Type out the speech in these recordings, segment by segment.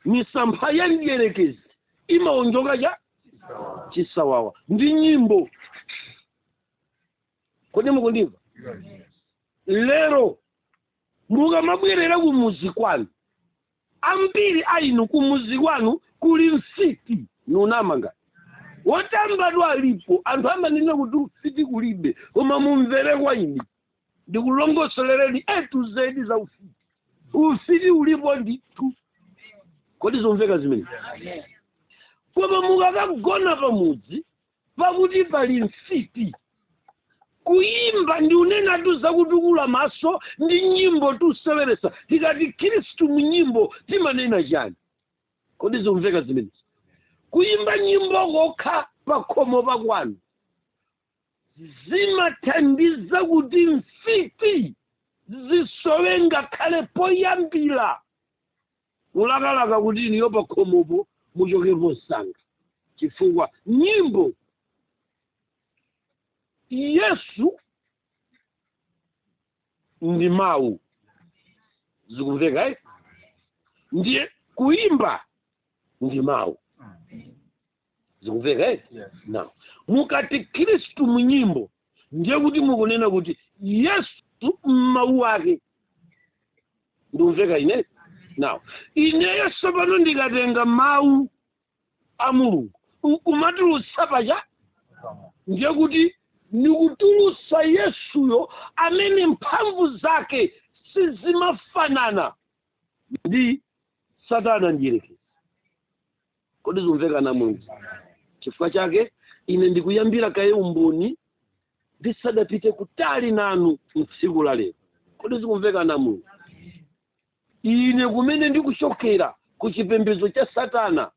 misampha ya mdierekezi imawonjoka cha chisawawa ndi nyimbo kodi mukundimva lero mukamabwerera kumuzi kwanu ambiri a inu kumuzi kwanu kuli mfiti ndi namanga wotamba alipo alipo anthu amanena kuti mfiti kulibe koma mumvere kwa ine ndikulongosolereni a to z za ufiti ufiti ulipo ndithu kodi zomveka zimenezi koma mukakagona pamudzi pakuti pali mfiti kuyimba ndikunenatu zakutukula maso ndi nyimbo tuseweresa tikati khristu mu nyimbo timanena chani kodi zomveka zimenezi kuyimba nyimbo kokha pakhomo pakwanu zimathandiza kuti mfiti zisowe ngakhale poyambira kulakalaka kuti inuyo pakhomopo muchokemo msanga chifukwa nyimbo yesu ndi mawu zikumveka eh? ndiye kuimba ndi mawu zikumveka now mukati khristu mu nyimbo ndiye kuti mukunena kuti yesu mmawu ake ndikumveka ine now ineyo tsopano ndikatenga mawu a mulungu nkumatulutsa paja ndiye kuti ndikutulutsa yesuyo amene mphamvu zake sizimafanana ndi satana mdierekezi Kodi zikumveka anamwezi? Chifukwa chake ine ndikuyambira kaye umboni ndisadapite kutali nanu mtsiku la lero. Kodi zikumveka anamwezi? Ine kumene ndikuchokera ku chipembedzo cha Satana,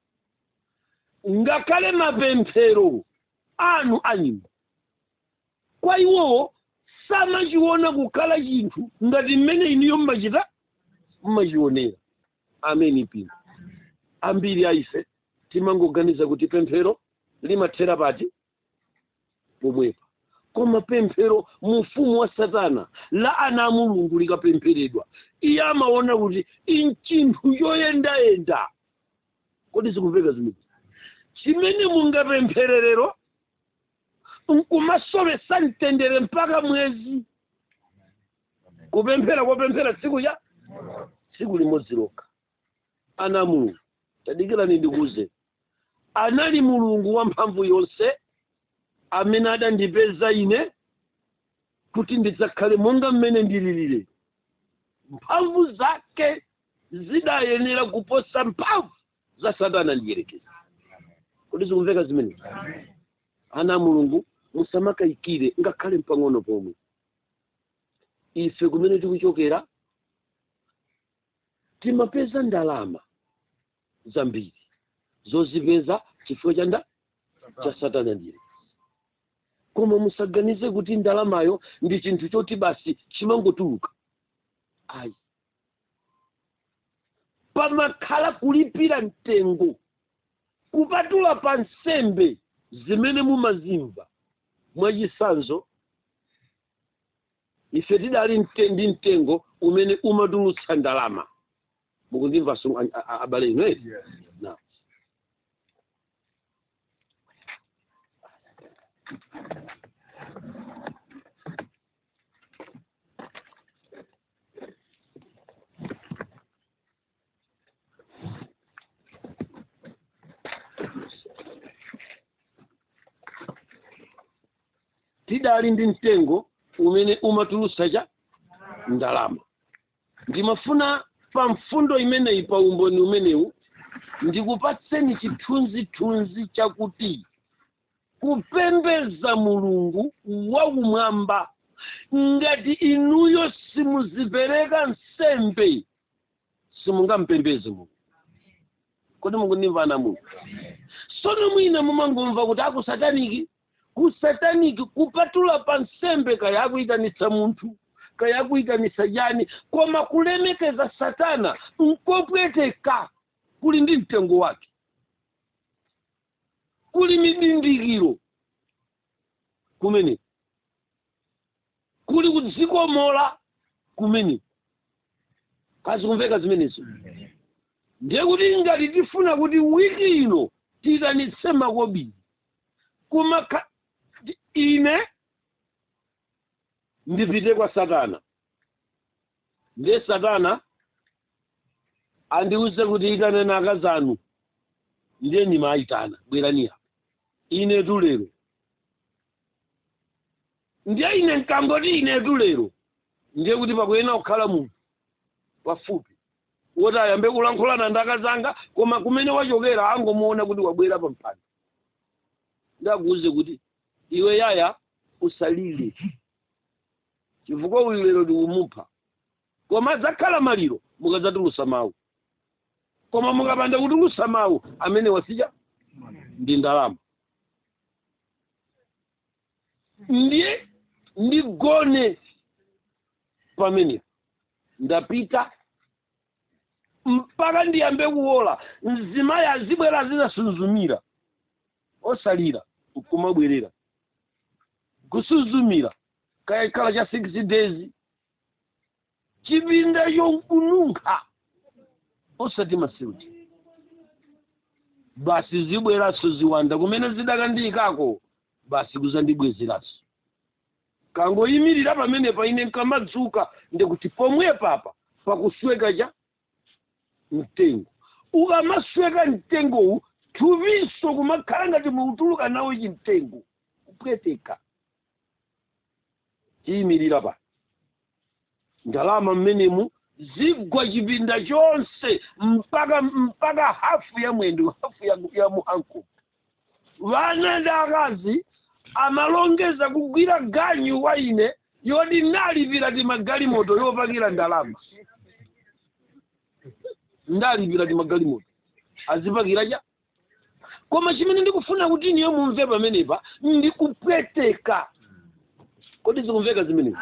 ngakhale mapemphero anu a nyimbo kwa iwowo samachiona kukhala chinthu ngati mmene inuyo mmachita mmachionera. Ameni, mpingo. Ambiri a ife timangoganiza kuti pemphero limathera pati pomwepa, koma pemphero mu ufumu wa Satana la ana a Mulungu likapempheredwa, iye amaona kuti nchinthu yoyendayenda. Kodi zikumveka zimenezi chimene mungapemphere lero nkumasowesa mtendere mpaka mwezi kupemphera kopemphera tsiku ya tsiku limodzi lokha ana a mulungu tadikirani ndikuuzeni anali mulungu wamphamvu yonse amene adandipeza ine kuti ndidzakhale monga mmene ndililire mphamvu zake zidayenera kuposa mphamvu za satana mdierekezi kodi zikumveka zimenezi ana a mulungu musamakayikire ngakhale pang'ono pomwe ife kumene tikuchokera timapeza ndalama zambiri zozipeza chifukwa cha nda cha satana mdierekezi koma musaganize kuti ndalamayo ndi chinthu choti basi chimangotuluka ayi pamakhala kulipira mtengo kupatula pa nsembe zimene mumazimva mwachitsanzo ife tidali mte- ndi mtengo umene umatulutsa ndalama mukundimva asu- a- a- a- abale inu eti Yes. Naam. tidali ndi mtengo umene umatulutsa chani ndalama ndimafuna pa mfundo imeneyi pa umboni umenewu ndikupatseni chithunzithunzi chakuti kupembedza mulungu wakumwamba ngati inuyo simuzipereka nsembe simungampembedze mulungu kodi mukundimva ana a mulungu sono mwina mumangomva kuti akusataniki kusataniki kupatula pa nsembe kaya akuyitanitsa munthu kaya akuyitanitsa chani koma kulemekeza satana nkopweteka kuli ndi mtengo wake kuli mindindikiro kumene kuli kudzikomola kumene kodi zikumveka zimenezo ndiye kuti ngati tifuna kuti wiki ino tiyitanitse makobiri koma ka- ti- ine ndipite kwa satana ndiye satana andiwuze kuti itaneni akazi anu ndiye ndimayitana bwerani apa ine tulero ndiye ine nkangoti inetu lero ndiye kuti pakuyenera kukhala munthu pafupi woti ayambe kulankhulana ndi akazanga koma kumene wachokera angomuona kuti wabwera pa mpanda ndikuuze kuti iwe yaya usalire chifukwa uyu lero ndikumupha koma adzakhala maliro mukadzatulusa mawu koma mukapanda kutulusa mawu amene wasija ndi ndalama ndiye ndigone pamene ndapita mpaka ndiyambe kuwola mzimayi azibwera kudzasuzumira osalira kumabwerera kusuzumira kaya ikhala cha 6 days chipinda chonkununkha osati masiuti basi zibweranso ziwanda kumene zidakandiyikako basi kuzandibwezeranso kangoyimirira pamenepa ine nkamadzuka ndikuti pomwe papa pakusweka cha mtengo ukamasweka mtengowu thupiso kumakhala ngati mukutuluka nawo chimtengo kupweteka chiyimirira pa ndalama mmenemu zigwa chipinda chonse mpaka mpaka hafu ya mwendo hafu ya, ya muhanko wana ndi akazi amalongeza kugwira ganyu wa ine yoti ndalipira timagalimoto yopakira ndalama ndalipira timagalimoto azipakira cha koma chimene ndikufuna kuti inuyo mumve pamenepa ndi kupweteka kodi zikumveka zimenezi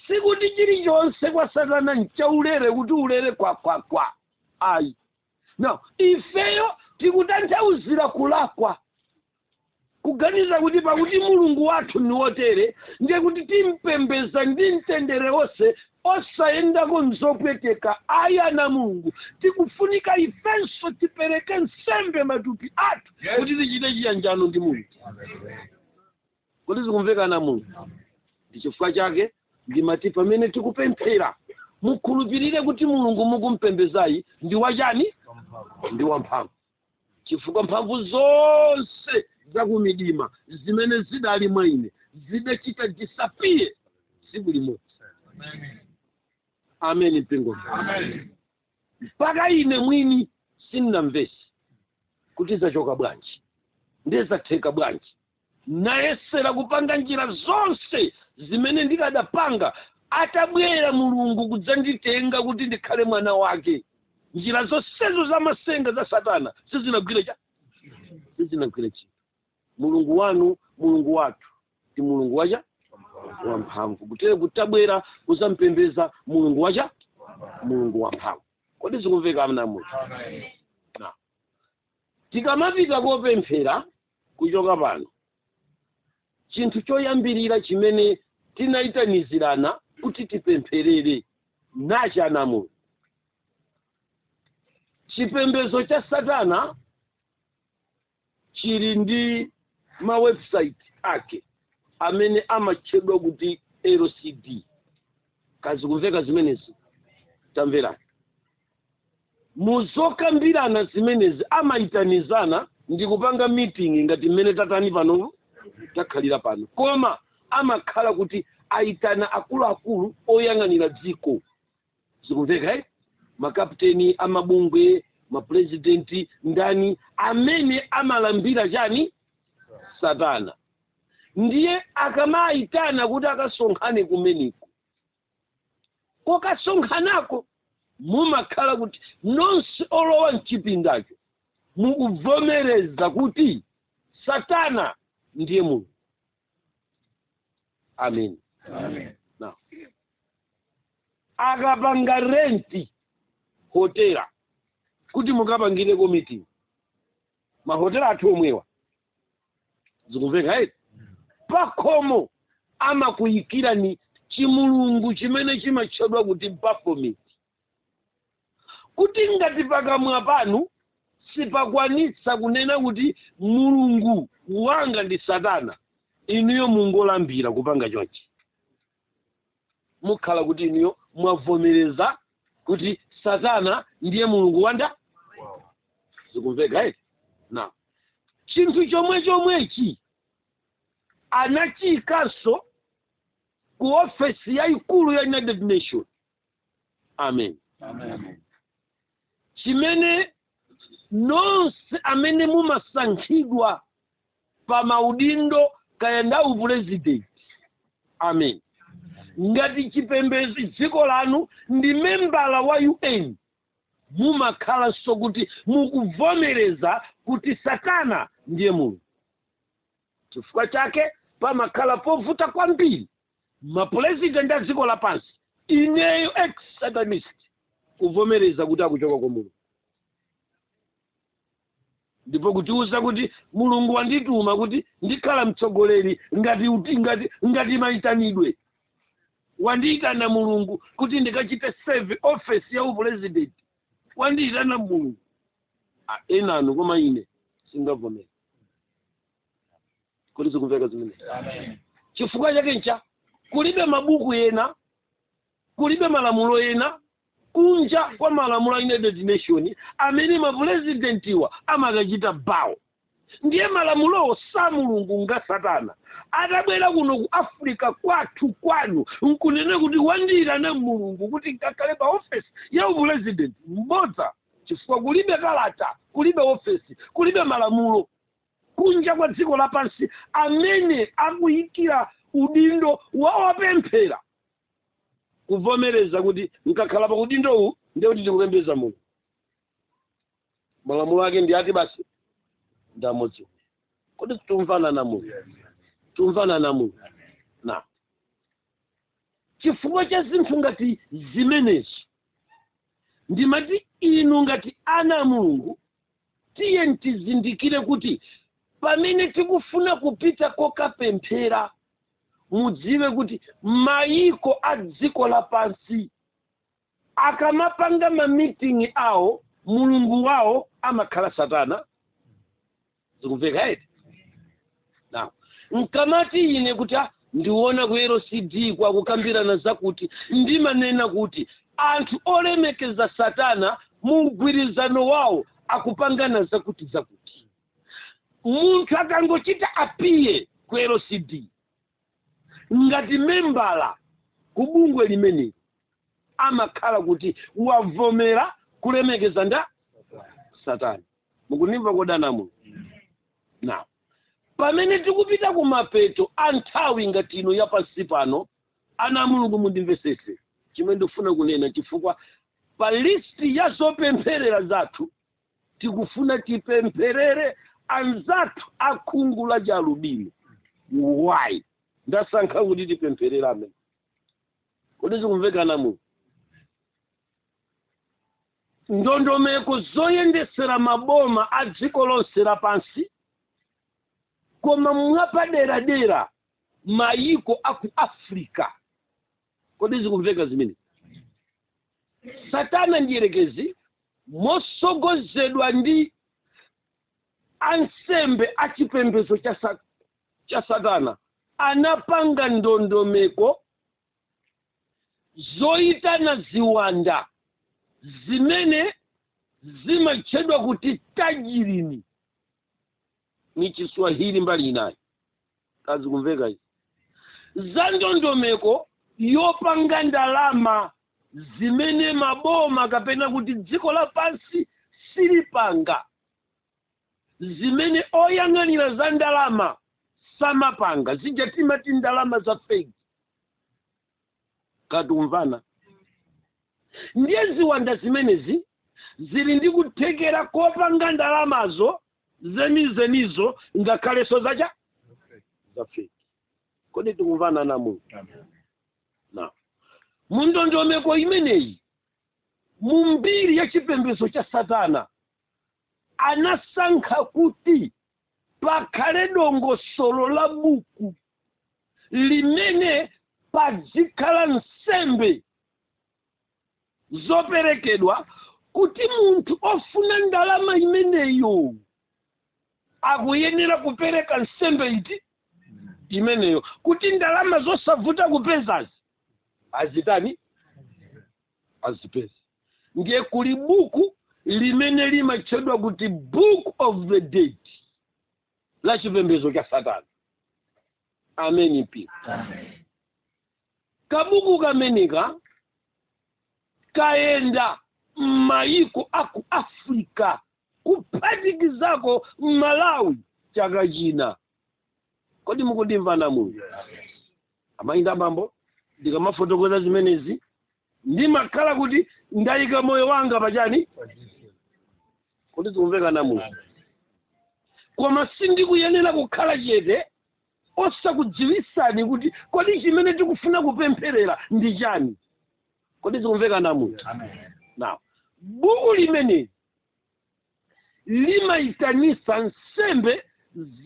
sikuti chilichonse kwa satana nchaulere kuti ulere kwakwakwa ayi no ifeyo tikutanthauzira kulakwa kuganiza kuti pakuti mulungu wathu ni wotere ndiye kuti timpembeza ndi mtendere wonse osayendako m'zopweteka ayi ana a mulungu tikufunika ifenso tipereke nsembe matupi athu Yes. kuti tichite chiyanjano ndi mulungu kodi zikumveka ana a mulungu ndi chifukwa chake ndimati pamene tikupemphera mukhulupirire kuti mulungu mukumpembezayi ndi wachani ndi wamphamvu chifukwa mphamvu zonse za kumidima zimene zidali mwa ine zidachita disappear tsiku limodzi ameni mpingo mpaka ine mwini sindinamvese kuti zachoka bwanji ndiye zatheka bwanji nayesera kupanga njira zonse zimene ndikadapanga atabwera mulungu kudzanditenga kuti ndikhale mwana wake njira zonsezo za masenga za satana sizinagwira cha sizinagwira chinthu mulungu wanu mulungu wathu ndi mulungu wacha wamphamvu kutere kuti tabwera kuzampembeza mulungu wacha mulungu wamphamvu kodi zikumveka ana a mulungu Tikamapita kopemphera kuchoka pano, chinthu choyambirira chimene tinaitanizirana kuti tipempherere nachi ana a Mulungu. Chipembedzo cha Satana chili ndi ma website ake amene amatchedwa kuti LCD. Kodi zikumveka zimenezi tamverani. Mu zokambirana zimenezi amaitanizana ndi kupanga meeting ngati mmene tatani pano takhalira pano, koma amakhala kuti aitana akuluakulu oyang'anira dziko, zikumveka eh? makapteni amabungwe mapulezidenti ndani amene amalambira chani satana ndiye akamaitana kuti akasonkhane kumeneko kokasonkhanako mumakhala kuti nonse olowa mchipindacho mukuvomereza kuti satana ndiye mulungu amen Amen. Now, akapanga renti hotela kuti mukapangireko meeting mahotela athu omwewa zikumveka eti pakhomo amakuyikirani chimulungu chimene chimatchedwa kuti baphomet kuti ngati pakamwa panu sipakwanitsa kunena kuti mulungu wanga ndi satana inuyo mungolambira kupanga chonchi mukhala kuti inuyo mwavomereza kuti satana ndiye mulungu wanga zikumveka eti na chinthu chomwe chomwechi anachiyikanso ku ofesi yayikulu ya united nation amen Amen. chimene nonse amene mumasankhidwa pa maudindo kaya ndi a upulezidenti amen ngati chipembedzo dziko lanu ndi membala wa un mumakhalanso kuti mukuvomereza kuti satana ndiye mulungu chifukwa chake pamakhala povuta kwambiri mapulezidenti a dziko lapansi, ineyo ex satanist kuvomereza kuti akuchoka kwa mulungu ndipo kutiwuza kuti mulungu wandituma kuti ndikhala mtsogoleri ngati uti- ngati ngati mayitanidwe wandiyitana mulungu kuti ndikachite serve office ya upulezidenti wandiyitana mulungu Ah, enanu koma ine sindingavomere kodi zikumveka zimenezi chifukwa chake ncha kulibe mabuku ena kulibe malamulo ena kunja kwa malamulo a united nation amene mapurezidentiwa amakachita bawo ndiye malamulowo sa mulungu nga satana atabwera kuno ku africa kwathu kwanu nkunena kuti wandiyitana mulungu kuti nkakhale pa ofesi ya upurezidenti n'bodza chifukwa kulibe kalata kulibe ofesi kulibe malamulo kunja kwa dziko lapansi amene akuyikira udindo wa opemphera kuvomereza kuti nkakhala pa udindowu ndiye kuti ndikupembedza mulungu malamulo ake ndi ati basi ndi amodzi kodi tumvana ana a mulungu tumvana ana a mulungu na chifukwa cha zinthu ngati zimenezi ndimati inu ngati ana a mulungu tiyeni tizindikire kuti pamene tikufuna kupita kokapemphera mudziwe kuti mayiko a dziko lapansi akamapanga mamitingi awo mulungu wawo amakhala satana zikumveka eti now nkamati ine kuti ah, ndiona ku lcd kwa akukambirana zakuti ndimanena kuti anthu olemekeza satana mu mgwirizano wawo akupangana zakuti zakuti munthu akangochita appear ku lcd ngati membala ku bungwe limeneli amakhala kuti wavomera kulemekeza nda satana mukundimva kodi ana a mulungu na pamene tikupita ku mapeto a nthawi ngati ino ya pansi pano ana a mulungu mundimvesese chimene ndikufuna kunena chifukwa pa listi ya zopempherera zathu tikufuna tipempherere anzathu akhungu la chialubino why ndasankha kuti tipempherere amene kodi zikumveka ana a mulungu ndondomeko zoyendetsera maboma a dziko lonse lapansi koma mwapaderadera mayiko a ku africa kodi zikumveka zimene satana mdierekezi mosogozedwa ndi ansembe a chipembedzo cha satana anapanga ndondomeko zoyitana ziwanda zimene zimatchedwa kuti tajilini m'chiswahili mbali inayi ka zikumveka izi za ndondomeko yopanga ndalama zimene maboma kapena kuti dziko lapansi silipanga zimene oyang'anira za ndalama samapanga zija timati ndalama za fake ka tikumvana ndiye ziwanda zimenezi zili ndi kuthekera kopanga ndalamazo zenizenizo ngakhalenso zacha za fake kodi tikumvana ana mulungu now mundondomeko imeneyi mu mbiri ya chipembedzo cha satana anasankha kuti pakhale dongosolo la buku limene padzikhala nsembe zoperekedwa kuti munthu ofuna ndalama imeneyo akuyenera kupereka nsembe iti imeneyo kuti ndalama zosavuta kupezazi azitani azipeza ndiye kuli buku limene limatchedwa kuti book of the dead la chipembedzo cha satana ameni mpingo kabuku kameneka kayenda m'mayiko a ku africa kuphatikizako malawi chaka china kodi mukundimva ana mulungu amayi ndi abambo ndikamafotokoza zimenezi ndimakhala kuti ndayika moyo wanga pachani kodi zikumveka ana mulungu koma sindikuyenera kukhala chete osakudziwisani kuti kodi chimene tikufuna kupempherera ndi chani kodi zikumveka ana mulungu now buku limeneli limayitanitsa nsembe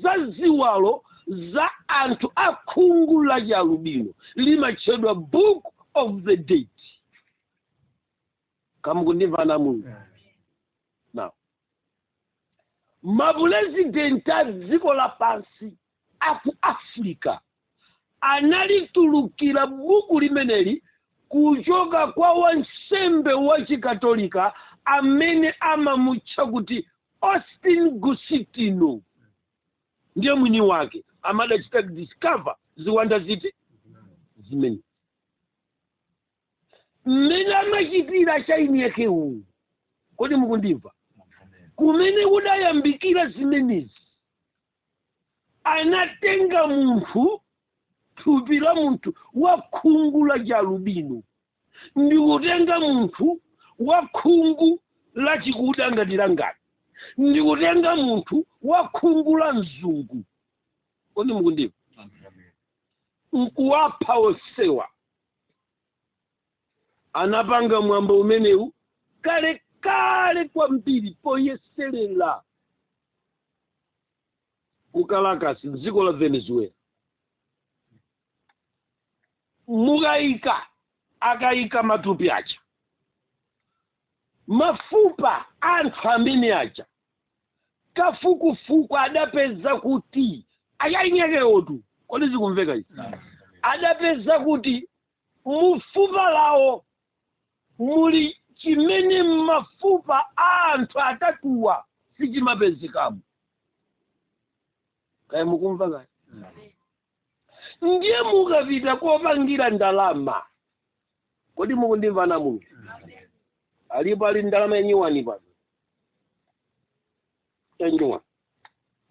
za ziwalo za anthu a khungu la chialubino limatchedwa book of the dead ka mukundimva ana mulungu now mapulezidenti a dziko lapansi a ku Africa analitulukira buku limeneli kuchoka kwa wansembe wa Chikatolika amene amamutcha kuti Austin Gusitino ndiye mwini wake amadachita discover ziwanda ziti zimenezi mmene amachitira chaini yake uwu kodi mukundimva kumene kudayambikira zimenezi anatenga munthu thupi la munthu wa khungu la chalubino ndi kutenga munthu wa khungu la chikuda ngati langali ndi kutenga munthu wa khungu la mzungu kodi mukundimva nkuwapha onsewa anapanga mwambo umenewu kale kale kwambiri poyeserera ku Caracas mdziko la Venezuela mukayika akayika matupi aja mafupa anthu amene aja kafukufuku adapeza kuti achiyinyekewotu kodi zikumveka izi adapeza kuti Mu fupa lawo muli chimene m'mafupa a anthu atatuwa sichimapezekamo. Kaya mukumva kaya? Ndiye mukapita kopangira ndalama. Kodi mukundimva anthu a Mulungu? Alipo ali ndalama yanyuwani pano. Yanyuwani.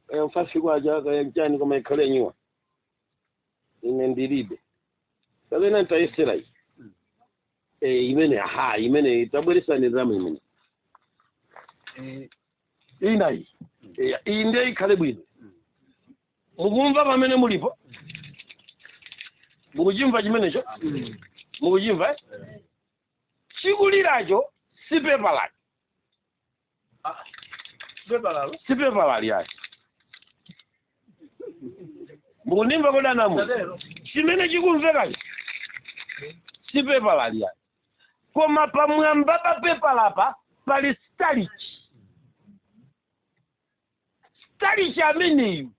Kaya mfaifi kwacha kaya nchani koma ikhale yanyuwani. ine ndilibe kapena nditayesera iyi Eh, imene ha imene tabweretsani ndalama imene Eh, ina iyi Eh, iyi ndiye ikhale bwino mukumva pamene mulipo mukuchimva chimenecho mukuchimva eh? chikuliracho si pepa lake si pepala lyayi mukundimva kodi anamu chimene chikumvekachi si pepala lyayi koma pamwamba pa pepalapa pali starch Starch ameneyu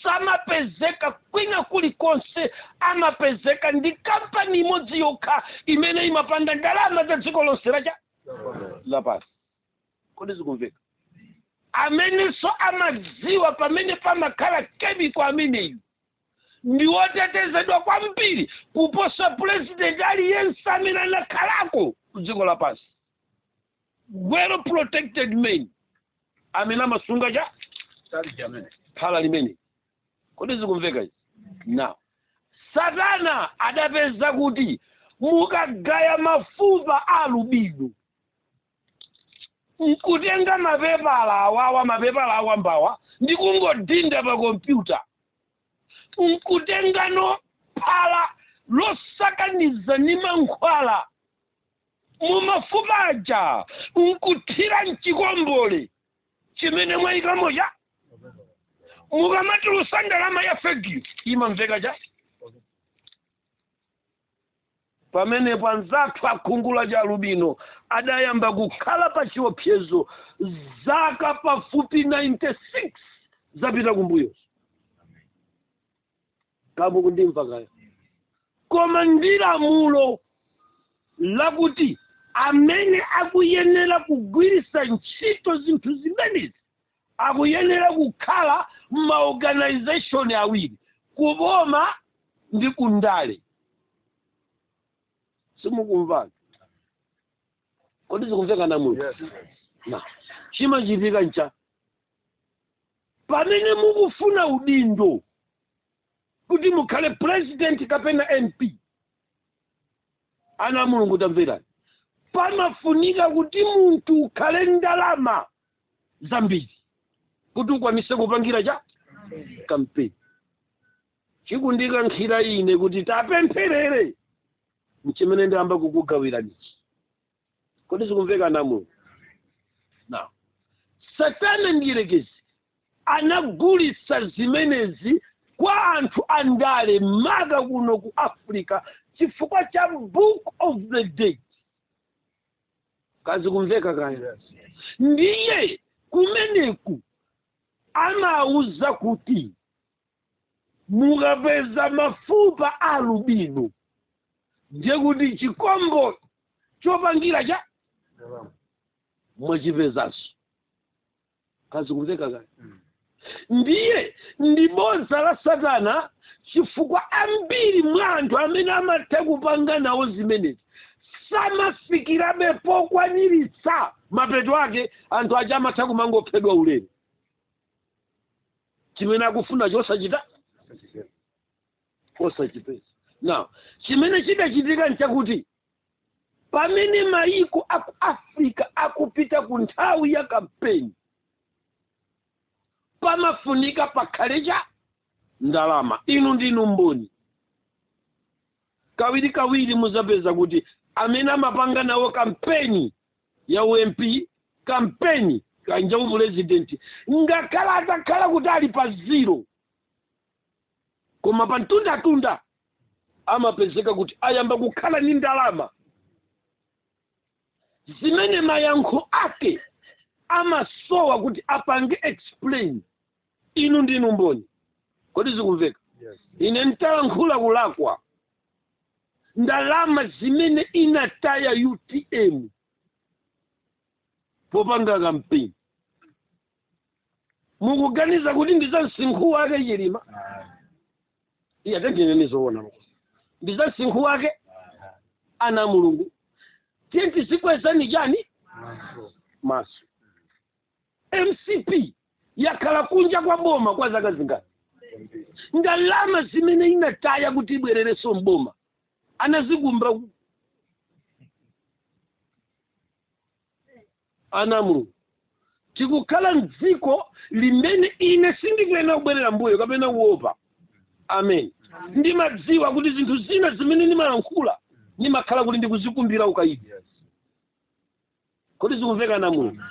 samapezeka kwina kulikonse amapezeka ndi kampani imodzi yokha imene imapanga ndalama za dziko lonse lapansi kodi zikumveka amenenso amadziwa pamene pamakhala kemiko ameneyu ndi wotetezedwa kwambiri kuposa pulezidenti aliyense amene anakhalako ku dziko lapansi well protected men amene amasunga cha phala limene kodi zikumveka izi now satana adapeza kuti mukagaya mafupa a alubino nkutenga mapepala awawa mapepala awambawa ndi kungodinda pa kompyuta nkutengano phala losakaniza ndi mankhwala mu mafupa aja nkuthira mchikombole chimene mwayikamo cha mukamatulusa ndalama ya fekiyo imamveka cha pamenepo anzathu akhungu la chialubino adayamba kukhala pa chiopsezo zaka pafupi 96 zapita kumbuyo ka mukundimva kaya koma ndi lamulo lakuti amene akuyenera kugwiritsa ntchito zinthu zimenezi akuyenera kukhala maorganization awiri kuboma ndi kundale simukumva kodi zikumveka ana a mulungu now chimachitika ncha Pamene mukufuna udindo kuti mukhale president kapena MP, ana a Mulungu tamverani, pamafunika kuti munthu ukhale ndalama zambiri kuti ukwanise kupangira cha kampeni. Chikundikankhira ine kuti tapempherere nchimene ndiyamba kukugawiranichi. kodi zikumveka ana a mulungu now satana mdierekezi anagulitsa zimenezi kwa anthu andale maka kuno ku africa chifukwa cha book of the dead ka zikumveka kaya ndiye kumeneku amauza kuti mukapeza mafupa a alubino ndiye kuti chikombo chopangira cha mwachipezanso ka zikumveka kaya ndiye ndi bodza la satana chifukwa ambiri mwa anthu amene amatha kupanga nawo zimenezi samafikirabe pokwaniritsa mapeto ake anthu aja amatha kumangophedwa ulele chimene akufunacho osachita osachipeza now chimene chidachitika nchakuti pamene mayiko aku africa akupita ku nthawi ya kampeni pamafunika pakhale cha ndalama inu ndinu mboni Kawirikawiri mudzapeza kuti amene amapanga nawo kampeni ya u MP, kampeni kaya nja upulezidenti, ngakhale atakhala kuti ali pa zero, koma pa mtundatunda amapezeka kuti ayamba kukhala ndi ndalama zimene mayankho ake amasowa kuti apange explain inu ndinu mboni kodi zikumveka ine ntalankhula kulakwa ndalama zimene inataya utm popanga kampeni mukuganiza kuti ndi za msinkhu wake chilima iye atengeneni zoona ndi za msinkhu wake ana a mulungu tiyeni tizikwezani chani maso mcp yakhala kunja kwa boma kwa zaka zingati ndalama zimene inataya kuti ibwererenso mboma anazikumba ku- ana a mulungu tikukhala mdziko limene ine sindikuyenera kubwerera mbuyo kapena kuopa amen ndimadziwa kuti zinthu zina zimene ndimalankhula ndimakhala kuti ndikuzikumbira ukayidi kodi zikumveka ana a mulungu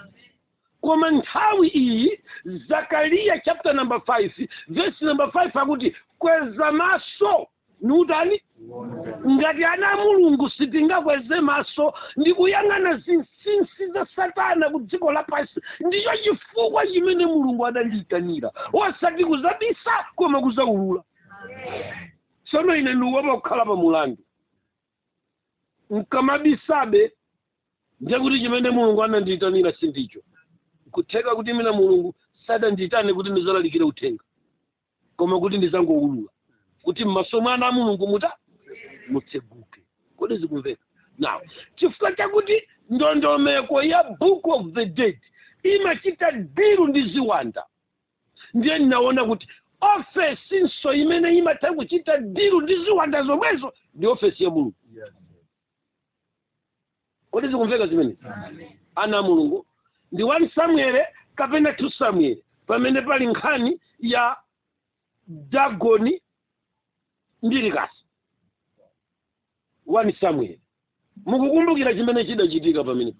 koma nthawi iyi zakariya chapter number 5 verse number 5 akuti kweza maso ndiye utani ngati ana a mulungu sitingakweze maso ndi kuyang'ana zinsinsi za satana ku dziko lapansi ndicho chifukwa chimene mulungu adandiyitanira osati kuzabisa koma kuzaulula tsono ine ndiuopa kukhala pa mulandu nkamabisabe ndiye kuti chimene mulungu anandiyitanira sindicho nkutheka kuti mwina mulungu sadandiyitane kuti ndizalalikire uthenga koma kuti ndizangowulula kuti m'maso mwa ana a mulungu muta mutseguke kodi zikumveka now chifukwa chakuti ndondomeko ya book of the dead imachita diru ndi ziwanda ndiye ndinaona kuti ofesinso imene imatha kuchita dilu ndi ziwanda zomwezo ndi ofesi ya milungu kodi zikumveka zimenezi ana a mulungu ndi 1 samuele kapena 2 samuele pamene pali nkhani ya dagoni ndi likasa 1 samuele mukukumbukira chimene chidachitika pamenepo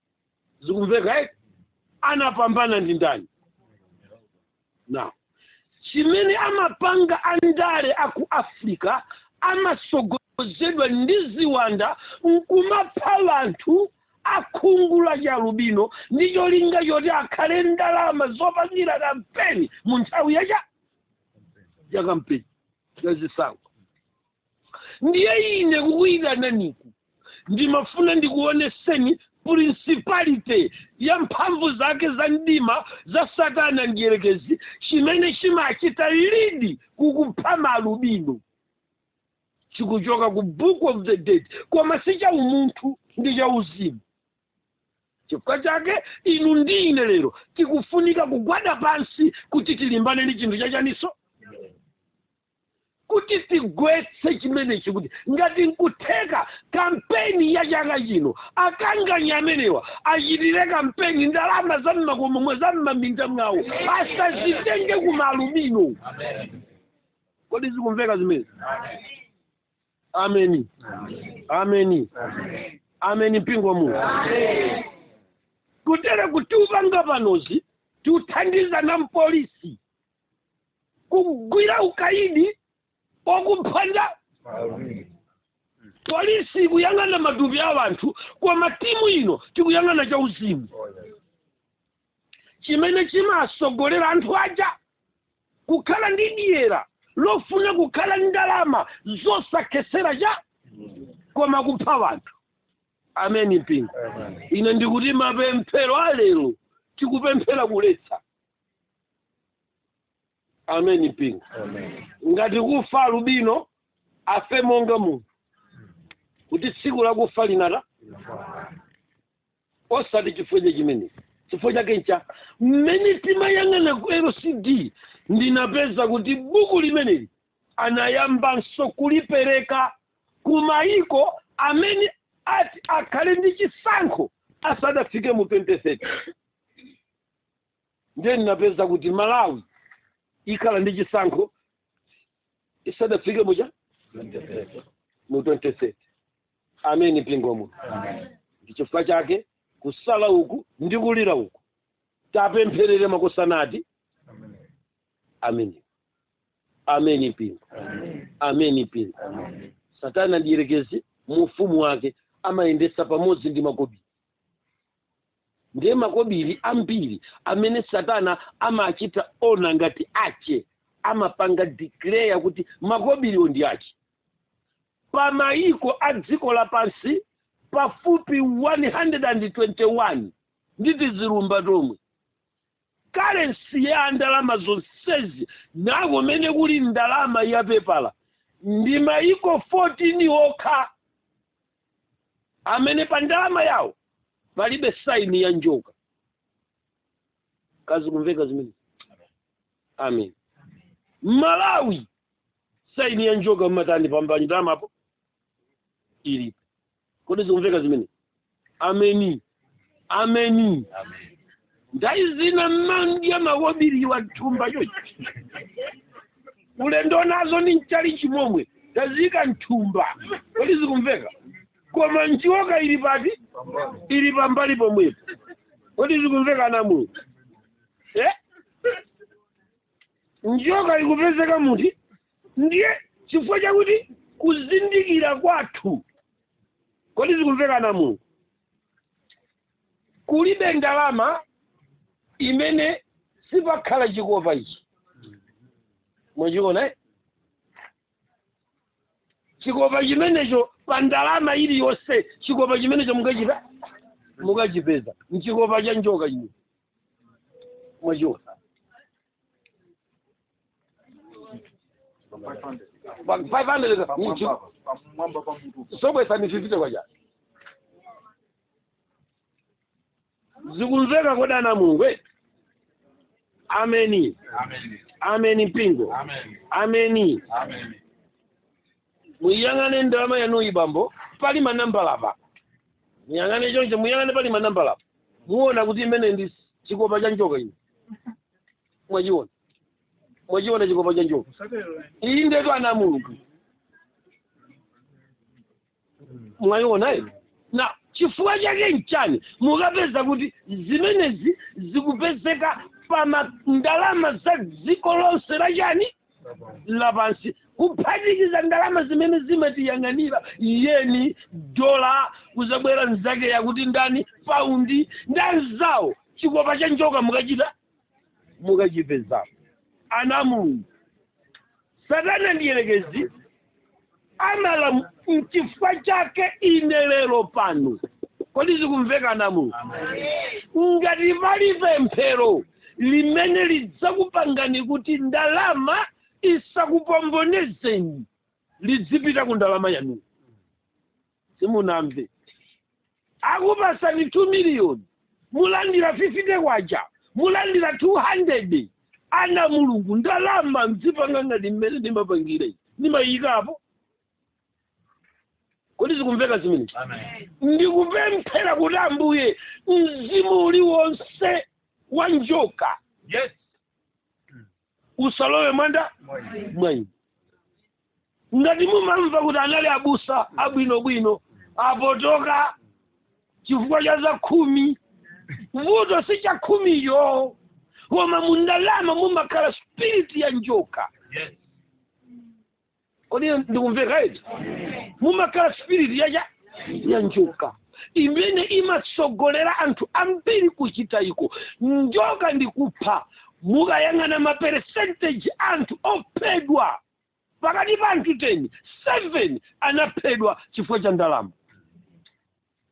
zikumveka eti anapambana ndi ndani now chimene amapanga andale aku africa amasogozedwa ndi ziwanda nkumapha anthu akhungu la chialubino ndi cholinga choti akhale ndalama zopangira kampeni mu nthawi yacha ya kampeni yazisankho ndiye ine kukuyitananiku ndimafuna ndikuoneseni principality ya mphamvu zake za mdima za satana mdierekezi chimene chimachita lidi kukupha malubino chikuchoka ku book of the dead koma si cha umunthu ndi cha uzimu chifukwa chake inu ndi ine lero tikufunika kugwada pansi kuti tilimbane ndi chinthu chachaninso kuti tigwetse chimenechi kuti ngati nkutheka kampeni ya chaka chino akanganya amenewa achitire kampeni ndalama za mmakomo mwa za mmaminda mwawo asazitenge ku malubino kodi zikumveka zimezi ameni ameni ameni mpingo wa mulungu kutere kuti upanga panozi tikuthandizana mpolisi kugwira ukaidi okuphanda polisi ikuyang'ana matupi a wanthu koma team ino tikuyang'ana cha uzimu chimene chimatsogolera anthu aja kukhala ndi dyera lofuna kukhala ndi ndalama zosakhetsera cha koma kupha wanthu ameni mpingo ine ndikuti mapemphero alero tikupemphera kuletsa ameni mpingo ngati kufa alubino afe monga munthu kuti tsiku la kufa linatha osati chifukwa cha chimenechi chifukwa chake ncha mmene timayang'ana ku lcd ndinapeza kuti buku limeneli anayambanso kulipereka ku mayiko amene ati akhale ndi chisankho asadafike mu 2030 ndiye ndinapeza kuti malawi ikhala ndi chisankho isadafike mucha mu 2030 ameni mpingo wa mulungu ndi chifukwa chake kusala uku ndi kulira uku tapempherere makusanati ameni ameni mpingo ameni mpingo satana mdierekezi mu ufumu wake amayendetsa pamodzi ndi makobiri Ndiye makobiri ambiri amene satana amachita ona ngati ache amapanga declare kuti makobiriwo ndi ache. Pa mayiko a dziko lapansi pafupi 121 ndi tizilumba tomwe currency ya ndalama zonsezi nakomwe kuli ndalama ya pepala ndi mayiko 14 okha amene pa ndalama yawo palibe saini ya njoka kodi zikumveka zimenezi amen malawi saini ya njoka mmatani pambali pa ndalamapo ilipo kodi zikumveka zimenezi ameni ameni ndiye ina mmandya makobiriwa mthumba choti kulendo nazo ni mtchalitchi chimomwe taziika mthumba kodi zikumveka koma njoka ili pati ili pambali pomwepo kodi zikumveka ana a mulungu eh? njoka ikupezeka muti ndiye chifukwa chakuti kuzindikira kwathu kodi zikumveka ana a mulungu kulibe ndalama imene sipakhala chikopa ichi mwachiona eh? chikopa chimenecho pa ndalama iliyonse chikopa chimenecho mukachita mukachipeza nchikopa cha njoka chimene mwachiona Ba- 500 za- nchi. pamwamba pa mutu sobwesa ni fifite kwacha na zikumveka kodi ana a mulungu eh? ameni ameni mpingo ameni ameni ameni muiyang'ane ndalama yanuyi bambo pali manambala apa muyang'ane choncho muyang'ane pali manambala apa muona kuti chimene ndi chikopa cha njoka ino mwachiona mwachiona chikopa cha njoka iyi ndetu ana a mulungu mwayiona ino na chifukwa chake nchani mukapeza kuti zimenezi zikupezeka pa ma- ndalama za dziko lonse la chani lapansi kuphatikiza ndalama zimene zimatiyang'anira yeni dola kuzabwera nzake akuti ndani paundi ndi anzawo chikopa cha njoka mukachita mukachipezamo ana a mulungu satana mdyerekezi amala nchifukwa chake ine lero pano kodi zikumveka ana a mu ngati pali pemphero limene lidzakupangani kuti ndalama isakupombonezeni lizipita ku ndalama yanu simunamve akupatsani 2 million mulandira 50 kwacha mulandira 200 ana a mulungu ndalama mzipanga ngati mmene ndimapangira ine ndimayikapo kodi zikumveka zimene Amen. ndikupemphera kuti ambuye mzimu uliwonse wa njoka Yes. usalowe mwangamwayi ngati mumamva kuti anali abusa abwinobwino apotoka chifukwa cha zakhumi vuto si chakhumicho koma mundalama mumakhala spiriti ya njoka kodi ndikumveka eti mumakhala spirit ya cha ya njoka imene imatsogolera anthu ambiri kuchita iko njoka ndi kupha mukayang'ana ma percentage anthu ophedwa pakati pa anthu 10 7 anaphedwa chifukwa cha ndalama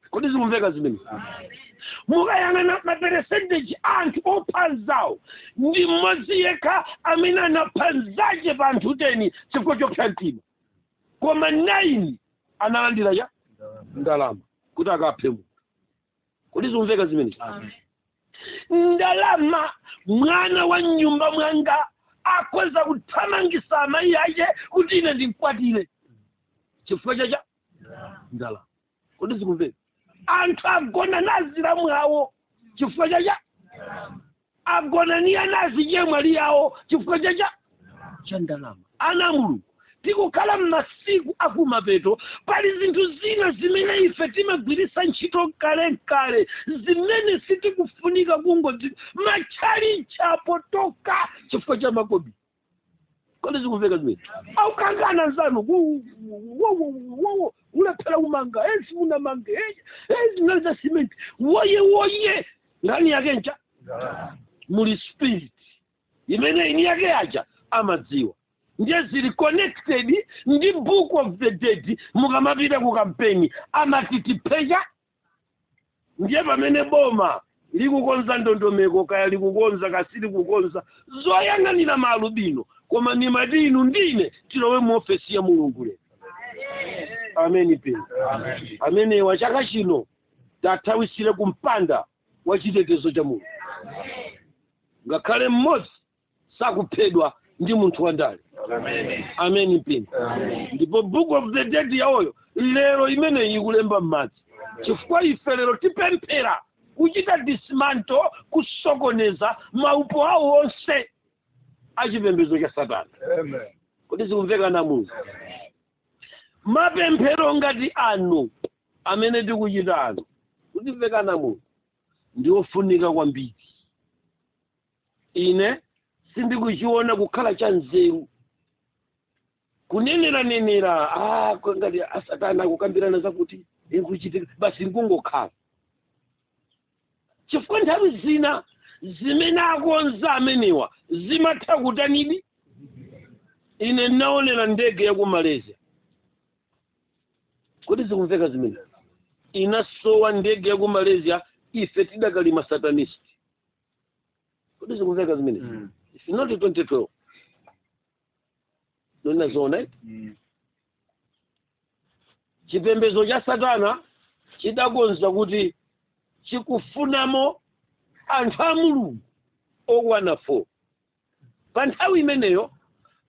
kodi zikumveka zimene mukayang'ana maperesenteji anthu opha anzawo ndi mmodzi yekha amene anapha nzache pa anthu teni chifukwa chopsa mtima koma 9 analandira cha ndalama kuti akaphe munthu kodi zikumveka zimene ndalama mwana wa mnyumba mwanga akhoza kuthamangisa amayi ache kuti ine ndimkwatire chifukwa cha cha ndalama kodi zikumveka anthu agona ndi azilamu awo chifukwa cha cha agona ndi anazichemwali awo chifukwa cha cha cha ndalama ana a mulungu tikukhala m'masiku akumapeto pali zinthu zina zimene ife timagwiritsa ntchito kalekale zimene sitikufunika kungoti matchalitchi apotoka chifukwa cha makobidi kodi zikumveka zimene aukangana nzanu ku- ku- wo- wo- wo- wo- ulephera umanga ezi unamanga ezi- ezi nali za cement woye woye nkhani yake ncha muli spirit imene eni ake aja amadziwa ndiye zili connected ndi book of the dead mukamapita ku kampeni amatitipeza ndiye pamene boma likukonza ndondomeko kaya likukonza kasili kukonza zoyang'anira maalubino koma ndimati inu ndi ine tilowe mu ofesi ya mulungu lero ameni pe ameni wa chaka chino tathawisire kumpanda wa chitetezo cha mulungu ngakhale mmodzi sakuphedwa ndi munthu wandale ameni mpingo ndipo book of the dead yawoyo lero imeneyi ikulemba m'madzi chifukwa ife lero tipemphera kuchita dismantle kusokoneza maupo awo onse achipembedzo cha satana kodi zikumveka na munthu mapemphero ngati ano amene tikuchita ano kodi zikumveka na munthu ndi ofunika kwambiri ine sindikuchiona kukhala cha nzeru kuneneranenera ah, kwa ngati asatana akukambirana zakuti ikuchitika basi nkungokhala chifukwa nthawi zina zimene akonza amenewa zimatha kutanidi ine naonera ndege ya ku malaysia kodi zikumveka zimene inasowa ndege ya ku malaysia ife tidakali masatanist kodi zikumveka zimenezi Mm. It's not 2012 ndikunena zoona eh? Mm. chipembedzo cha satana chidakonza kuti chikufunamo anthu a mulungu okwana 4 pa nthawi imeneyo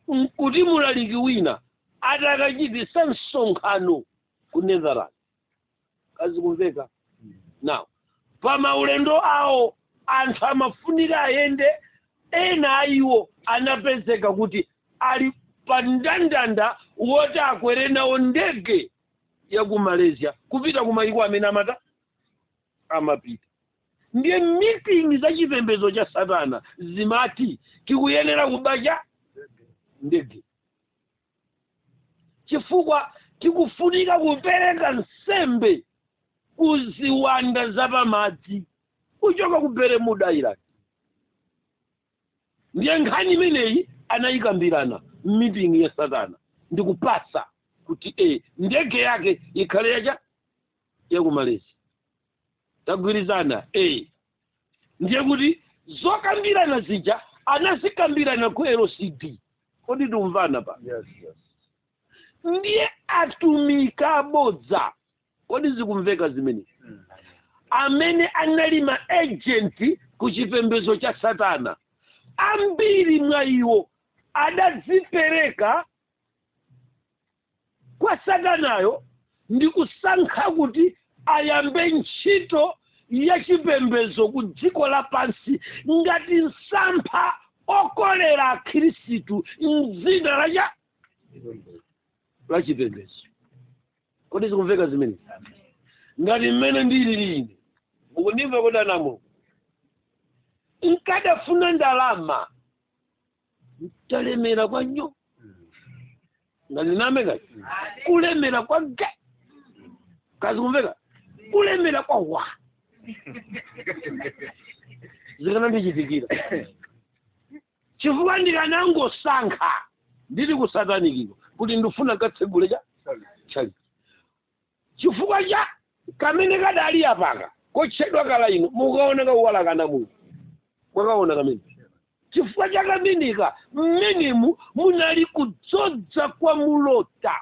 nkuti mulaliki wina atakachititsa msonkhano ku netherland kodi zikumveka now pa maulendo awo anthu amafunika ayende ena a iwo anapezeka kuti ali pa mndandanda woti akwere nawo ndege ya ku malaysia kupita ku mayiko amene amata amapita ndiye meeting za chipembedzo cha satana zimati tikuyenera kubacha ndege chifukwa tikufunika kupereka nsembe ku ziwanda zapamadzi kuchoka ku Bermuda Island ndiye nkhani imeneyi anayikambirana m'mitingi ya satana ndikupasa kuti e ndege yake ikhale yacha ya ku malaysia tagwirizana e ndiye kuti zokambirana zija anazikambirana ku lcd kodi tikumvana pa Yes, yes. ndiye atumika abodza kodi zikumveka zimene Mm. amene anali ma agent ku chipembedzo cha satana ambiri mwa iwo adadzipereka kwa Satanayo ndi kusankha kuti ayambe ntchito ya chipembedzo ku dziko lapansi ngati msampha okolera akhristu mdzina la cha la chipembedzo kodi zikumveka zimene ngati mmene ndilili ine mukundimva kodi anamo nkadafuna ndalama ntalemera kwa nyo ngati diname kati kulemera kwa ge kodi zikumveka kulemera kwa wa zikanandichitikira chifukwa ndikanangosankha ndili kusatanikiko kuti ndifuna nkatsegule cha chalichi Chifukwa cha kamene kadali apaka kotchedwa kalaino mukaona kauwala kana munthu mwakaona kamene chifukwa cha kameneka mmenemu munali kudzodza kwa mulota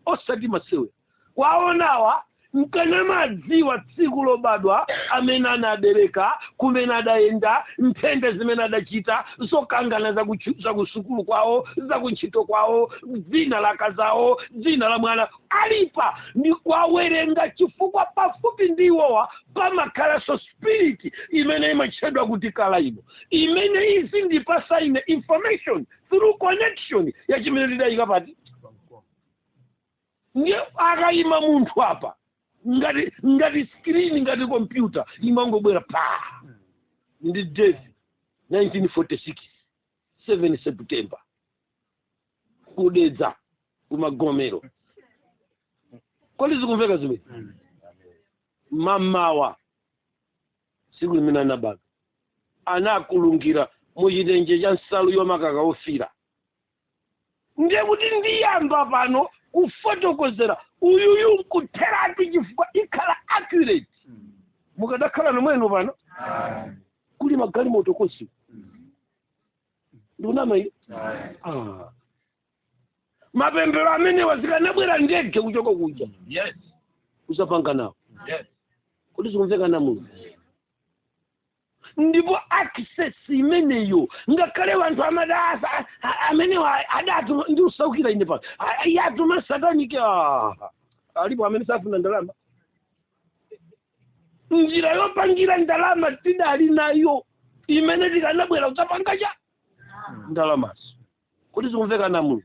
osati masewera kwaonawa nkanamadziwa tsiku lobadwa amene anabereka kumene adayenda nthenda zimene adachita zokangana zakuchu- zakusukulu kwawo zakuntchito kwawo dzina la akazawo dzina la mwana ali apa ndikuwawerenga chifukwa pafupi ndi iwowa pamakhalanso spirit imene imatchedwa kuti kalaino imene izindipatsa ine information through connection ya chimene ndidayika pati ndiye akayima munthu apa ngati ngati screen ngati kompyuta imangobwera pa ndi date 1946 7 september ku Dedza ku Magomero kodi zikumveka zimene mamawa tsiku limene anabadwa anakulungira muchitenje cha nsalu yomakaka ofiira ndiye kuti ndiyamba pano kufotokozera uyuyu nkutheratu chifukwa ikhala accurate mukadakhala nomwenu pano kuli magalimoto konse ndikunama ine Ah. mapemphero amenewa zikanabwera ndege kuchoka kuja Yes. kuzapanga nawo Yes. kodi zikumveka ana a mulungu ndipo access imeneyo ngakhale wanthu amadasa amenewa adatuma ndi usaukira ine pano A- iye atuma satanic ah. alipo amene safuna ndalama njira yopangira ndalama tidali nayo imene tikanabwera kudzapanga cha ndalamazo kodi zikumveka ana a mulungu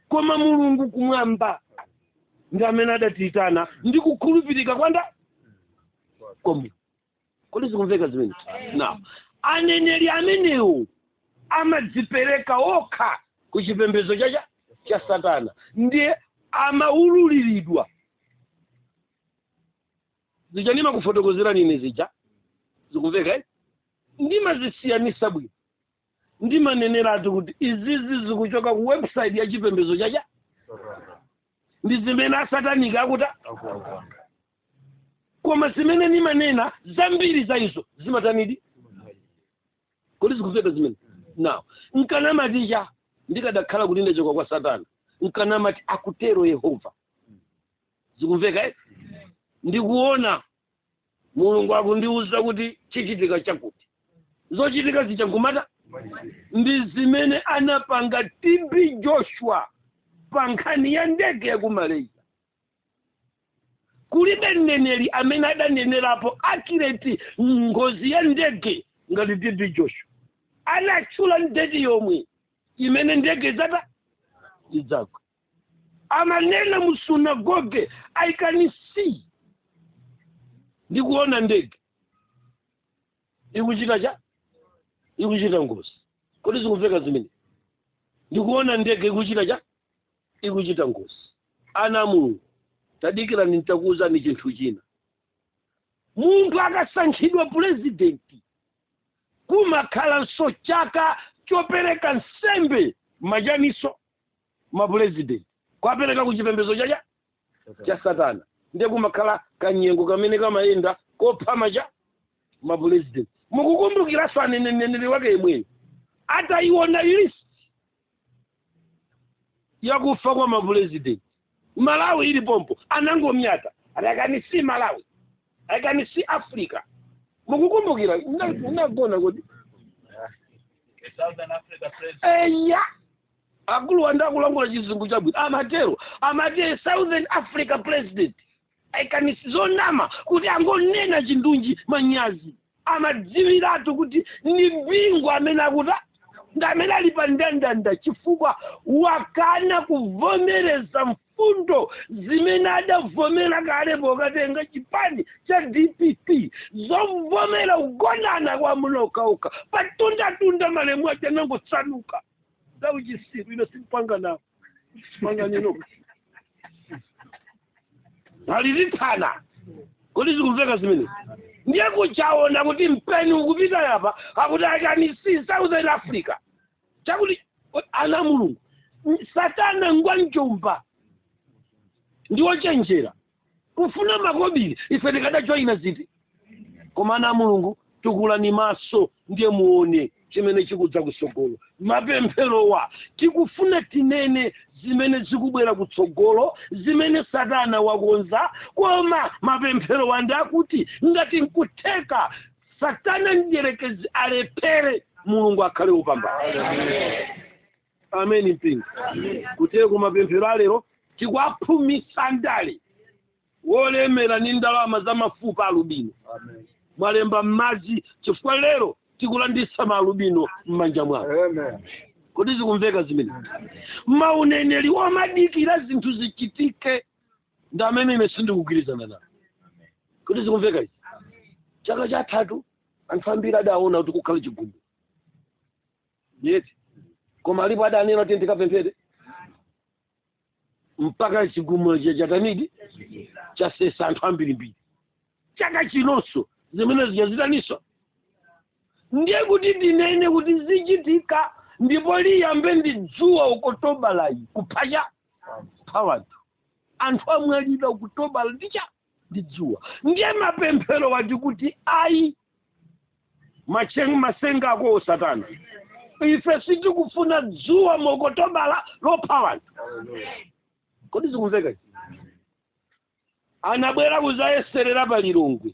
koma mulungu kumwamba ndi amene adatiyitana ndi kukhulupirika kwanga komu kodi zikumveka zimene now aneneri amenewo amadzipereka okha ku chipembedzo cha cha- cha satana ndiye amaululiridwa zija ndimakufotokozerani ine zija zikumveka eh? ndimazisiyanisa bwino ndimaneneratu kuti izizi zikuchoka ku website ya chipembedzo cha cha ndi zimene asataniki akuta koma zimene ndimanena zambiri za izo zimatanidi kodi zikumveka zimene now nkanamaticha ndikadakhala kuti ndachoka kwa satana nkanamati akutero yehova zikumveka eh? ndikuona mulungu akundiwuza kuti chichitika chakuti zochitika zija n'kumati ndi zimene anapanga tb joshua pa nkhani ya ndege ya ku malaysia kulibe mneneri amene adanenerapo akireti ngozi ya ndege ngati tb joshua anatchula ndege yomwe imene ndege zata zidzagwa amanena mu sunagoge i can see ndikuona ndege ikuchita cha ikuchita ngozi kodi zikumveka zimenezi ndikuona ndege ikuchita cha ikuchita ngozi ana a mulungu tadikirani nitakuwuzani chinthu china munthu akasankhidwa purezidenti kumakhalanso chaka chopereka nsembe majaniso mapulezidenti kwapereka ku chipembedzo cha cha cha satana ndiye kumakhala kanyengo kamene kamayenda kophama cha mapulezidenti mukukumbukiranso aneneri wake yemweyo atayiona list yakufa kwa mapulezidenti malawi ili pompo anangomyata ati I can see malawi akani si africa mukukumbukira Mna- munagona kuti Southern Africa president. eya akuluwa ndakulankhula chizungu chabwino amatero amati a southern africa president I can see zonama kuti angonena chindunji manyazi amadziwiratu kuti ndi bingu amene akuta ndi amene ali pa ndandanda chifukwa wakana kuvomereza mfundo zimene adavomera kale pokatenga chipani cha dpp zovomera kugonana kwa mlokauka patundatunda malemu aja anangosanduka zauchitsiru ine simpanga nawo sipanganino alilithana kodi zikumveka zimenezi ndiye kuchaona kuti mpeni ukupita yapa akuti I can see southern africa chakuti ana mulungu satana ngwanjomba ndiwochenjera kufuna makobiri ife tikadajoina ziti koma ana a mulungu tukulani maso ndiye muone chimene chikudza kutsogolo mapempherowa tikufuna tinene zimene zikubwera kutsogolo zimene satana wakonza koma mapempherowa ndi akuti ngati nkutheka satana mdyerekezi alephere mulungu akhale wopambana amen mpingo kuti ku mapemphero alero tikwaphumitsa ndale wolemera ndi ndalama za mafupa alubino mwalemba m'madzi chifukwa lero tikulanditsa maalubino m'manja mwawo kodi zikumveka zimene mauneneri omadikira zinthu zichitike ndi amene ine sindikugwirizana nawo kodi zikumveka izi chaka chathachi anthu ambiri adaona kuti kukhala chigumu yeti koma alipo adanena kuti ndikapemphere mpaka chigumula cha chatani di chasesa anthu ambirimbiri chaka chinonso zimene zija zitaninso ndiye kuti ndinene kuti zichitika ndipo liyambe ndi dzuwa okotobala yi kuphacha pha wanthu anthu amwalira okutobala ndicha ndi dzuwa ndiye mapemphero wati kuti ayi matsenga akowo satana ife sitikufuna dzuwa mokotobala lopha wanthu kodi zikumveka izi? anabwera kudzayeserera pa lilongwe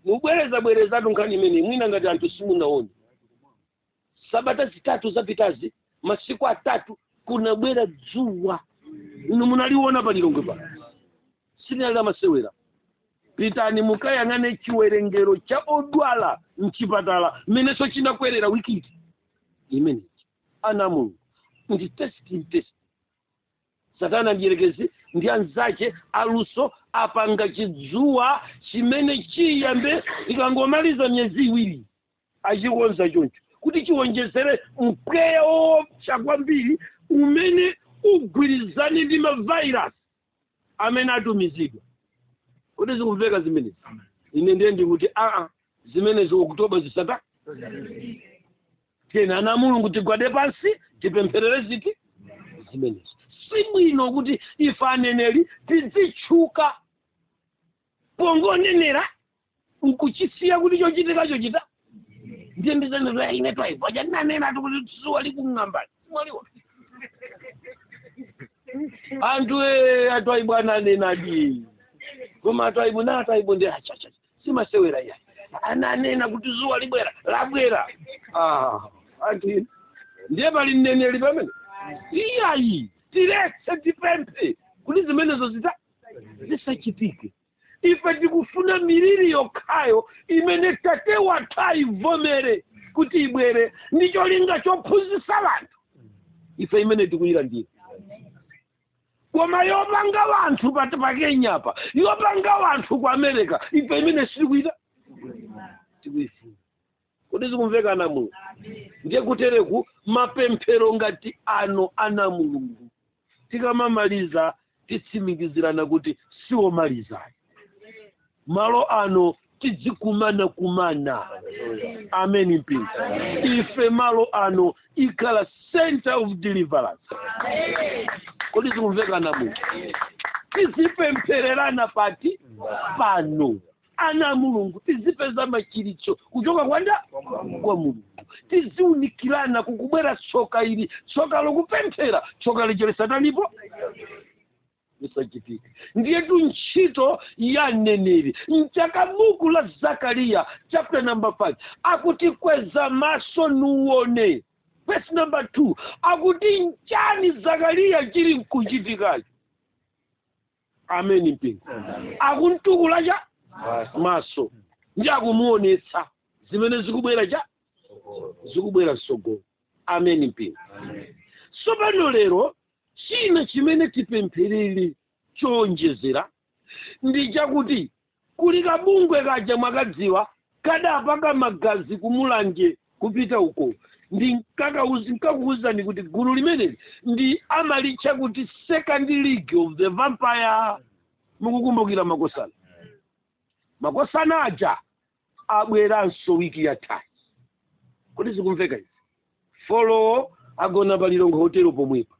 ndibwerezabwerezatu nkhani imeneyi mwina ngati anthu simunaone sabata zitatu zapitazi masiku atatu kunabwera dzuwa inu munaliona pa lilongwe pano silinali lamasewera pitani mukayang'ane chiwerengero cha odwala mchipatala mmenenso chinakwerera wiki imeneyi ana a mulungu ndi testing test satana mdierekezi ndi anzake aluso apanga chidzuwa chimene chiyambe ikangomaliza miyezi iwiri achikonza choncho kuti chiwonjezere mpweya woopsa kwambiri umene ugwirizane ndi mavairasi amene atumizidwa kodi zikumveka zimenezi ine ndiye ndikuti aa zimenezi oktoba zisatani tiyeni ana mulungu tigwade pansi tipempherere zithe zimenezo si bwino kuti ife aneneri tidzitchuka pongonenera nkuchisiya kuti chochitika chochita ndiye ndidzanena ine twaibu paja ndinanena kuti dzuwa likung'ambani mwaiwala anthu e atwaibu ananenadi koma atwaibu na atwaibu ndi achacha simasewera ya ananena kuti dzuwa libwera labwera ah, ati ndiye pali mneneri pamenepa iyayi tiletse tipemphe kuti zimenezo zita zisachitike ife tikufuna miliri yokhayo imene tate wathu ayivomere kuti ibwere ndi cholinga chophunzitsa anthu ife imene tikuyilandira koma yopanga wanthu pa pakenyapa yopanga wanthu ku america ife imene sitikuyita tikuyifuna kodi zikumveka ana a mulungu ndiye kutereku mapemphero ngati ano ana a mulungu tikamamaliza titsimikizirana kuti si womaliza ayi malo ano tidzikumana kumana ameni mpingo ife malo ano ikhala center of deliverance kodi zikumveka ana a mulungu tizipemphererana pati pano ana a mulungu tizipeza machiritso kuchoka kwa ndani kwa mulungu tiziunikirana kukubwera tsoka ili tsoka lokupemphera tsoka lacherera satanipo lisachitike ndiyetu ntchito ya mneneri nchake buku la zakariya chapter number 5 akuti kweza maso nuone verse number 2 akuti nchani zakariya chili nkuchitikacho ameni mpingo akumtukula cha maso ndi akumuonetsa zimene zikubwera cha zikubwera msogolo ameni mpingo tsopano lero china chimene tipempherere chowonjezera ndi chakuti Kuli kabungwe kaja mwakaziwa kadapaka magazi ku Mulanje kupita uko ndinkakuuzani kuti gulu limeneli ndi amalitchula kuti second league of the vampire mukukumbukira makosana makosana aja abweranso wiki yathayi kodi zikumveka izi folowo agona pa lilongwe hotelo pomwepa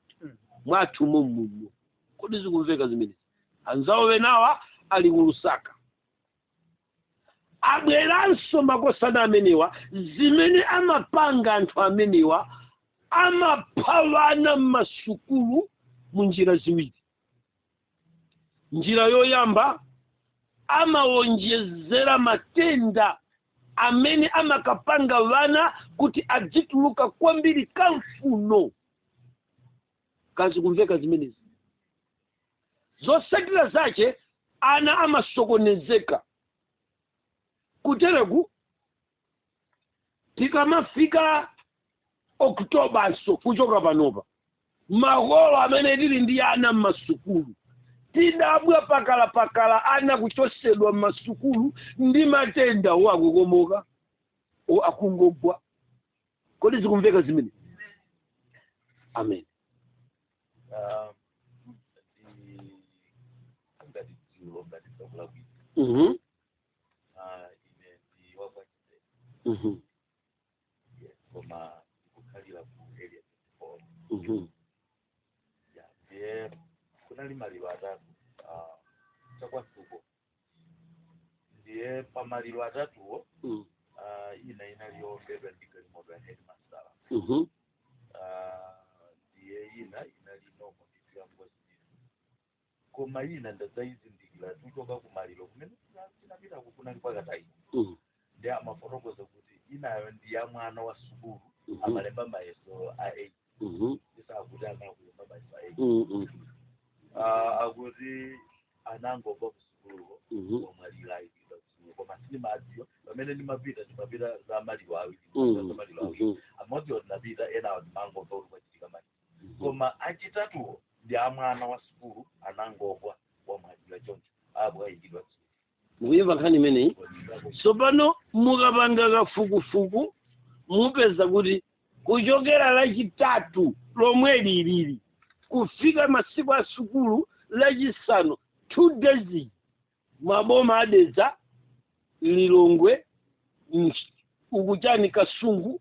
mwathu mommuno kodi zikumveka zimenezi anzawo enawa ali ku lusaka abweranso makosana amenewa zimene amapanga anthu amenewa amapha wana m'masukulu mu njira ziwiri njira yoyamba amawonjezera matenda amene amakapanga wana kuti azituluka kwambiri kamfuno kodi zikumveka zimenezi zosatira zache ana amasokonezeka kutereku tikamafika oktobanso kuchoka panopa makolo amene tili ndi ana m'masukulu tidabwa pakalapakala ana kuchosedwa m'masukulu ndi matenda o akukomoka o akungogwa kodi zikumveka zimenezi amen Ah, ndi- ngati dzulo ngati tsiku labwino Mhm, Ah, ine ndi wakwachite mhm, koma ndikukhalira ku area 24 mhm, ya ndiye kunali maliro atatu ah, chakwasuko ndiye pa maliro atatuwo Mm. ah, ina inali yowombedwa ndi galimoto ya headmaster Mhm. Ah, ndiye ina inali nomo ndithu ya ngozi ndithu koma ina ndadzayizindikira tuchoka ku maliro kumene tina- tinapita kunali pakatayi Mm. ndiye amafotokoza kuti inayo ndi ya mwana wa sukulu Mhm. amalemba mayeso a eight Mhm. ndisakuti anakulemba mayeso a eight Mm, mm, Ah, akuti anangogwa kusukuluko mhm. wamwalira ayikidwa kusukulu koma sindimadziwa pamene ndimapita ndimapita za maliro awiri Mm, za maliro awiri mhm. amodzi ndinapita enawo ndimangomva kuti kwachitika mali Mhm. koma achitatuwo ndi amwana wa sukulu anangogwa wamwalira choncho abwayikidwa mukuyimva nkhani imeneyi tsopano mukapanga kafukufuku mupeza kuti kuchokera lachitatu lomweli ilili kufika masiku a sukulu lachisanu two days maboma a Dedza lilongwe Mch- uku chani kasungu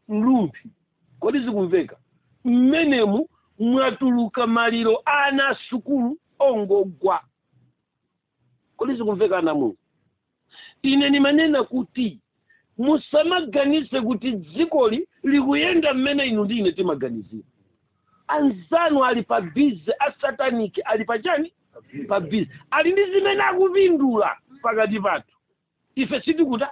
mlumphi. Kodi zikumveka? M'menemu mwatuluka maliro a ana a sukulu ongogwa. Kodi zikumveka ana Mulungu? Ine ndimanena kuti musamaganize kuti dzikoli likuyenda mmene inu ndi ine timaganizira. Anzanu ali pa bize, asataniki ali pa chani? Pa bize ali ndi zimene akupindula pakati pathu. ife tikuti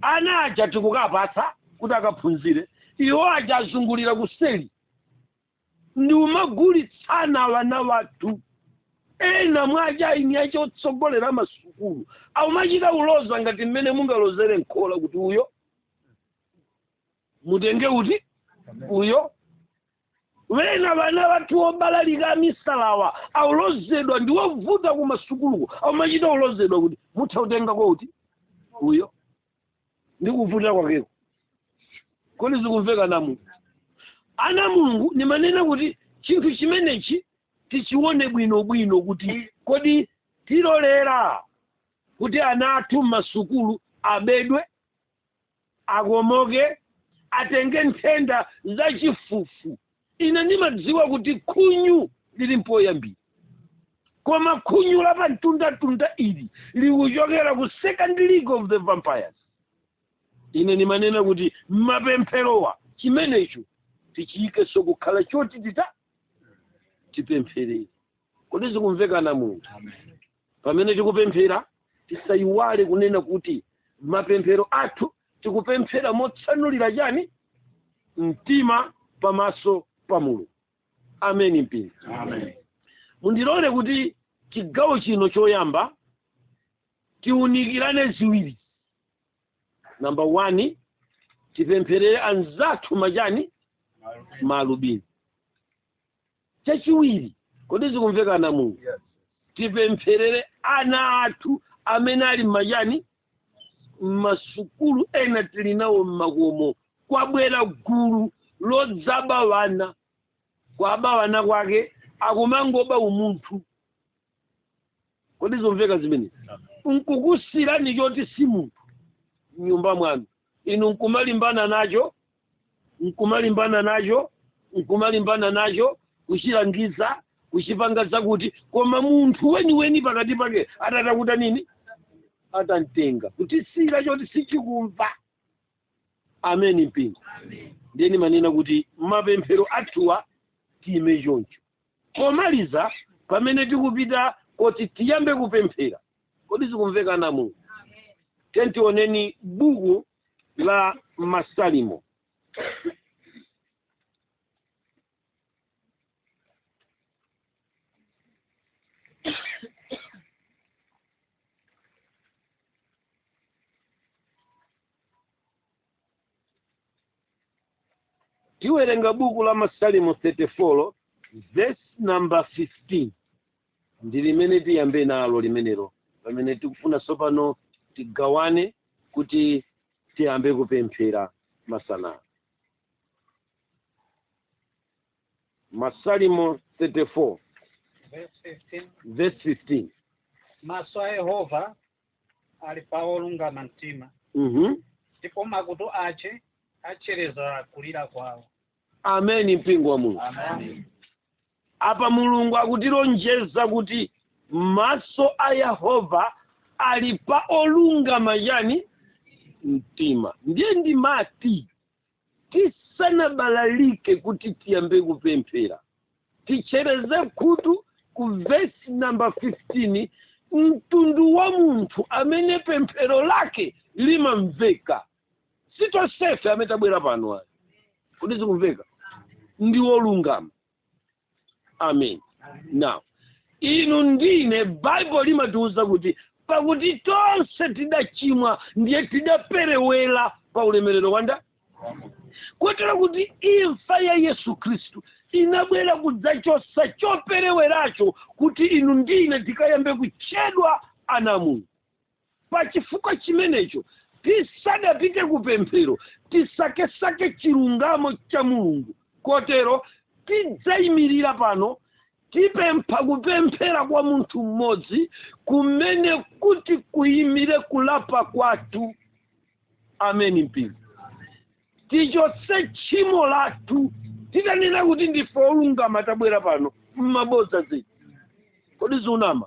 ana aja tikukapatsani kuti akaphunzire iwo aja azungulira kuseli ndi kumagulitsana wana wathu ena mwa achina otsogolera masukulu aumachita uloza ngati mmene mungalozere m'khola kuti uyo mutenge uti uyo wena wana wathu obalalika amisalawa aulozedwa ndi wovuta kumasukuluko aumachita ulozedwa kuti mutha kutengako uti uyo ndi kuvuta kwakeko kodi zikumveka ana a mulungu ana mulungu nimanena kuti chinthu chimenechi tichione bwino bwino kuti kodi tilolera kuti ana athu m'masukulu abedwe akomoke atenge nthenda za chifufu ine ndimadziwa kuti khunyu lili mpoyambira koma khunyu la pamtundatunda ili likuchokera ku second league of the vampires ine ndimanena kuti mapempherowa chimenecho tichiyikenso kukhala choti tita tipempherere kodi zikumveka ana a mulungu pamene tikupemphera tisayiwale kunena kuti mapemphero athu tikupemphera motsanulira chani mtima pamaso pa mulungu ameni mpingo Amen. mundilole kuti chigawo chino choyamba tiunikirane ziwiri namba one tipempherere anzathu machani maalubino chachiwiri kodi zikumveka mu tipempherere ana athu amene ali m'machani m'masukulu ena tili nawo m'makomo kwabwera gulu lodzaba wana kwaba wana kwake akumangoba umunthu kodi zomveka zimene nkukusirani choti si munthu mnyumba mwanu inu nkumalimbana nacho nkumalimbana nacho nkumalimbana nacho kuchilangiza kuchipanga zakuti koma munthu weniweni pakati pake atatakuta nini atantenga kutisira choti sichikumva ameni mpingo ndiye ndimanena kuti mapemphero athuwa tiyime choncho pomaliza pamene tikupita kuti tiyambe kupemphera kodi zikumveka namu tioneni buku la masalimo tiwerenga buku la masalimo 34 verse number 15 ndi limene tiyambe nalo limenelo pamene tikufuna tsopano tigawane kuti tiyambe kupemphera masana masalimo 34 verse 15 maso a yehova ali pa olungama mtima mhm ndipo makutu ace achereza kulira kwawo ameni mpingo wa mulungu Amen. apa mulungu akutilonjeza kuti maso a yehova ali pa olungama chani mtima ndiye ndimati tisanabalalike kuti tiyambe kupemphera tichereze khutu ku vesi namba 15 mtundu wa munthu amene pemphero lake limamveka si tonsefe amene tabwera pano ayi kodi zikumveka ndi wolungama amen now inu ndine baibulo limatiwuza kuti pakuti tonse tidachimwa ndiye tidaperewera pa ulemerero wanda kotero kuti imfa ya yesu khristu inabwera kudzachosa chopereweracho kuti inu ndine tikayambe kutchedwa ana a mulungu Pa chifukwa chimenecho, tisadapite ku pemphero, tisakesake chilungamo cha Mulungu. Kotero, tidzayimirira pano, tipempha kupemphera kwa munthu m'modzi kumene kuti kuyimire kulapa kwathu. Ameni mpingo. Tichotse tchimo lathu, titanena kuti ndife olungama tabwera pano, m'mabodza zedi. Kodi ndikunama?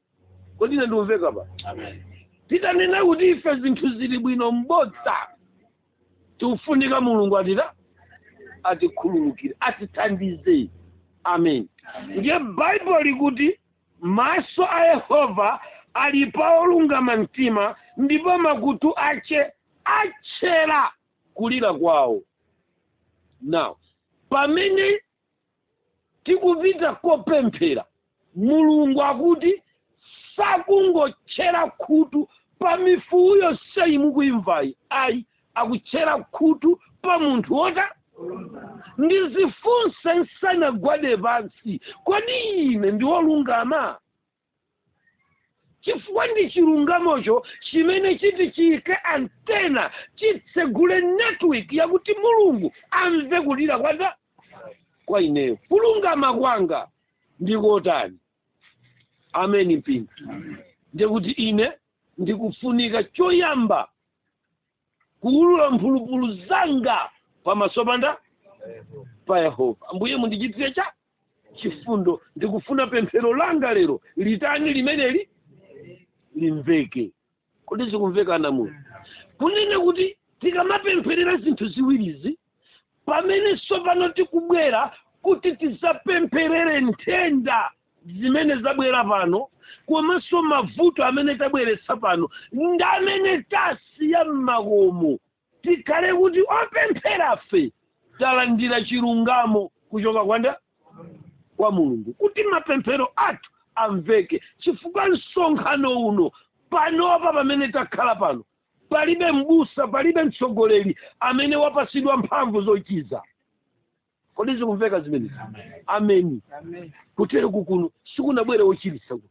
kodi ine ndikumveka pa titanena kuti ife zinthu zili bwino mbodza tikufunika mulungu atita atikhululukire atithandize amen ndiye baibulo likuti maso a yehova ali pa olungama mtima ndipo makutu ache atchera kulira kwawo now pamene tikupita kopemphera mulungu akuti sakungotchera khutu pa mifuwu yonseyi mukuimvayi ayi akutchera khutu pa munthu wota ndizifunse nsanagwade pansi kodi ine ndiwolungama chifukwa ndi chilungamocho chimene chiti chiyike antena chitsegule network yakuti mulungu amve kulira kwanda kwa ineyo kulungama kwanga ndikotani ameni mpingo ndiye kuti ine ndikufunika choyamba kuulula mphulupulu zanga pamaso panda pa yehova ambuye mundichitire cha chifundo ndikufuna pemphero langa lero litani limeneli limveke kodi zikumveka ana a mulungu kunena kuti tikamapempherera zinthu ziwirizi pamene tsopano tikubwera kuti tidzapempherere nthenda zimene zabwera pano komanso mavuto amene tabweretsa pano ndi amene tasiya m'makomo tikhale kuti opempherafe talandira chilungamo kuchoka kwanda kwa mulungu kuti mapemphero athu amveke chifukwa msonkhano uno panopa pamene takhala pano palibe m'busa palibe mtsogoleri amene wapasidwa mphamvu zochiza kodi zikumveka zimenezi ameni kutereku kuno sikunabwere wochiritsa kuno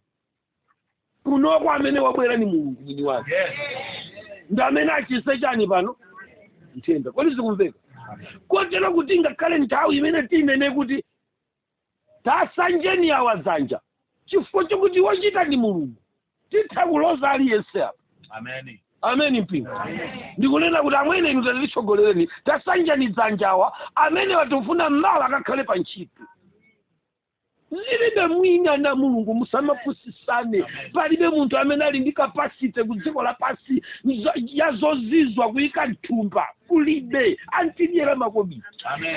kunoko amene wabwera ni mulungu mwini wake ndi amene achise chani pano nthenda kodi zikumveka kotero kuti ngakhale nthawi imene tinene kuti tasanjeni awa dzanja chifukwa chakuti wochita ni mulungu titha kuloza aliyense apa Amen. ameni mpingo ndikunena kuti amwene inu tatitsogolereni tasanjani dzanja awa amene watifuna mmawa akakhale pa ntchito zilibe mwina na mulungu musamapusisane palibe munthu amene ali ndi kapasite ku dziko lapansi nzo- ya zozizwa kuyika mthumba kulibe antidyera makobiri Amen.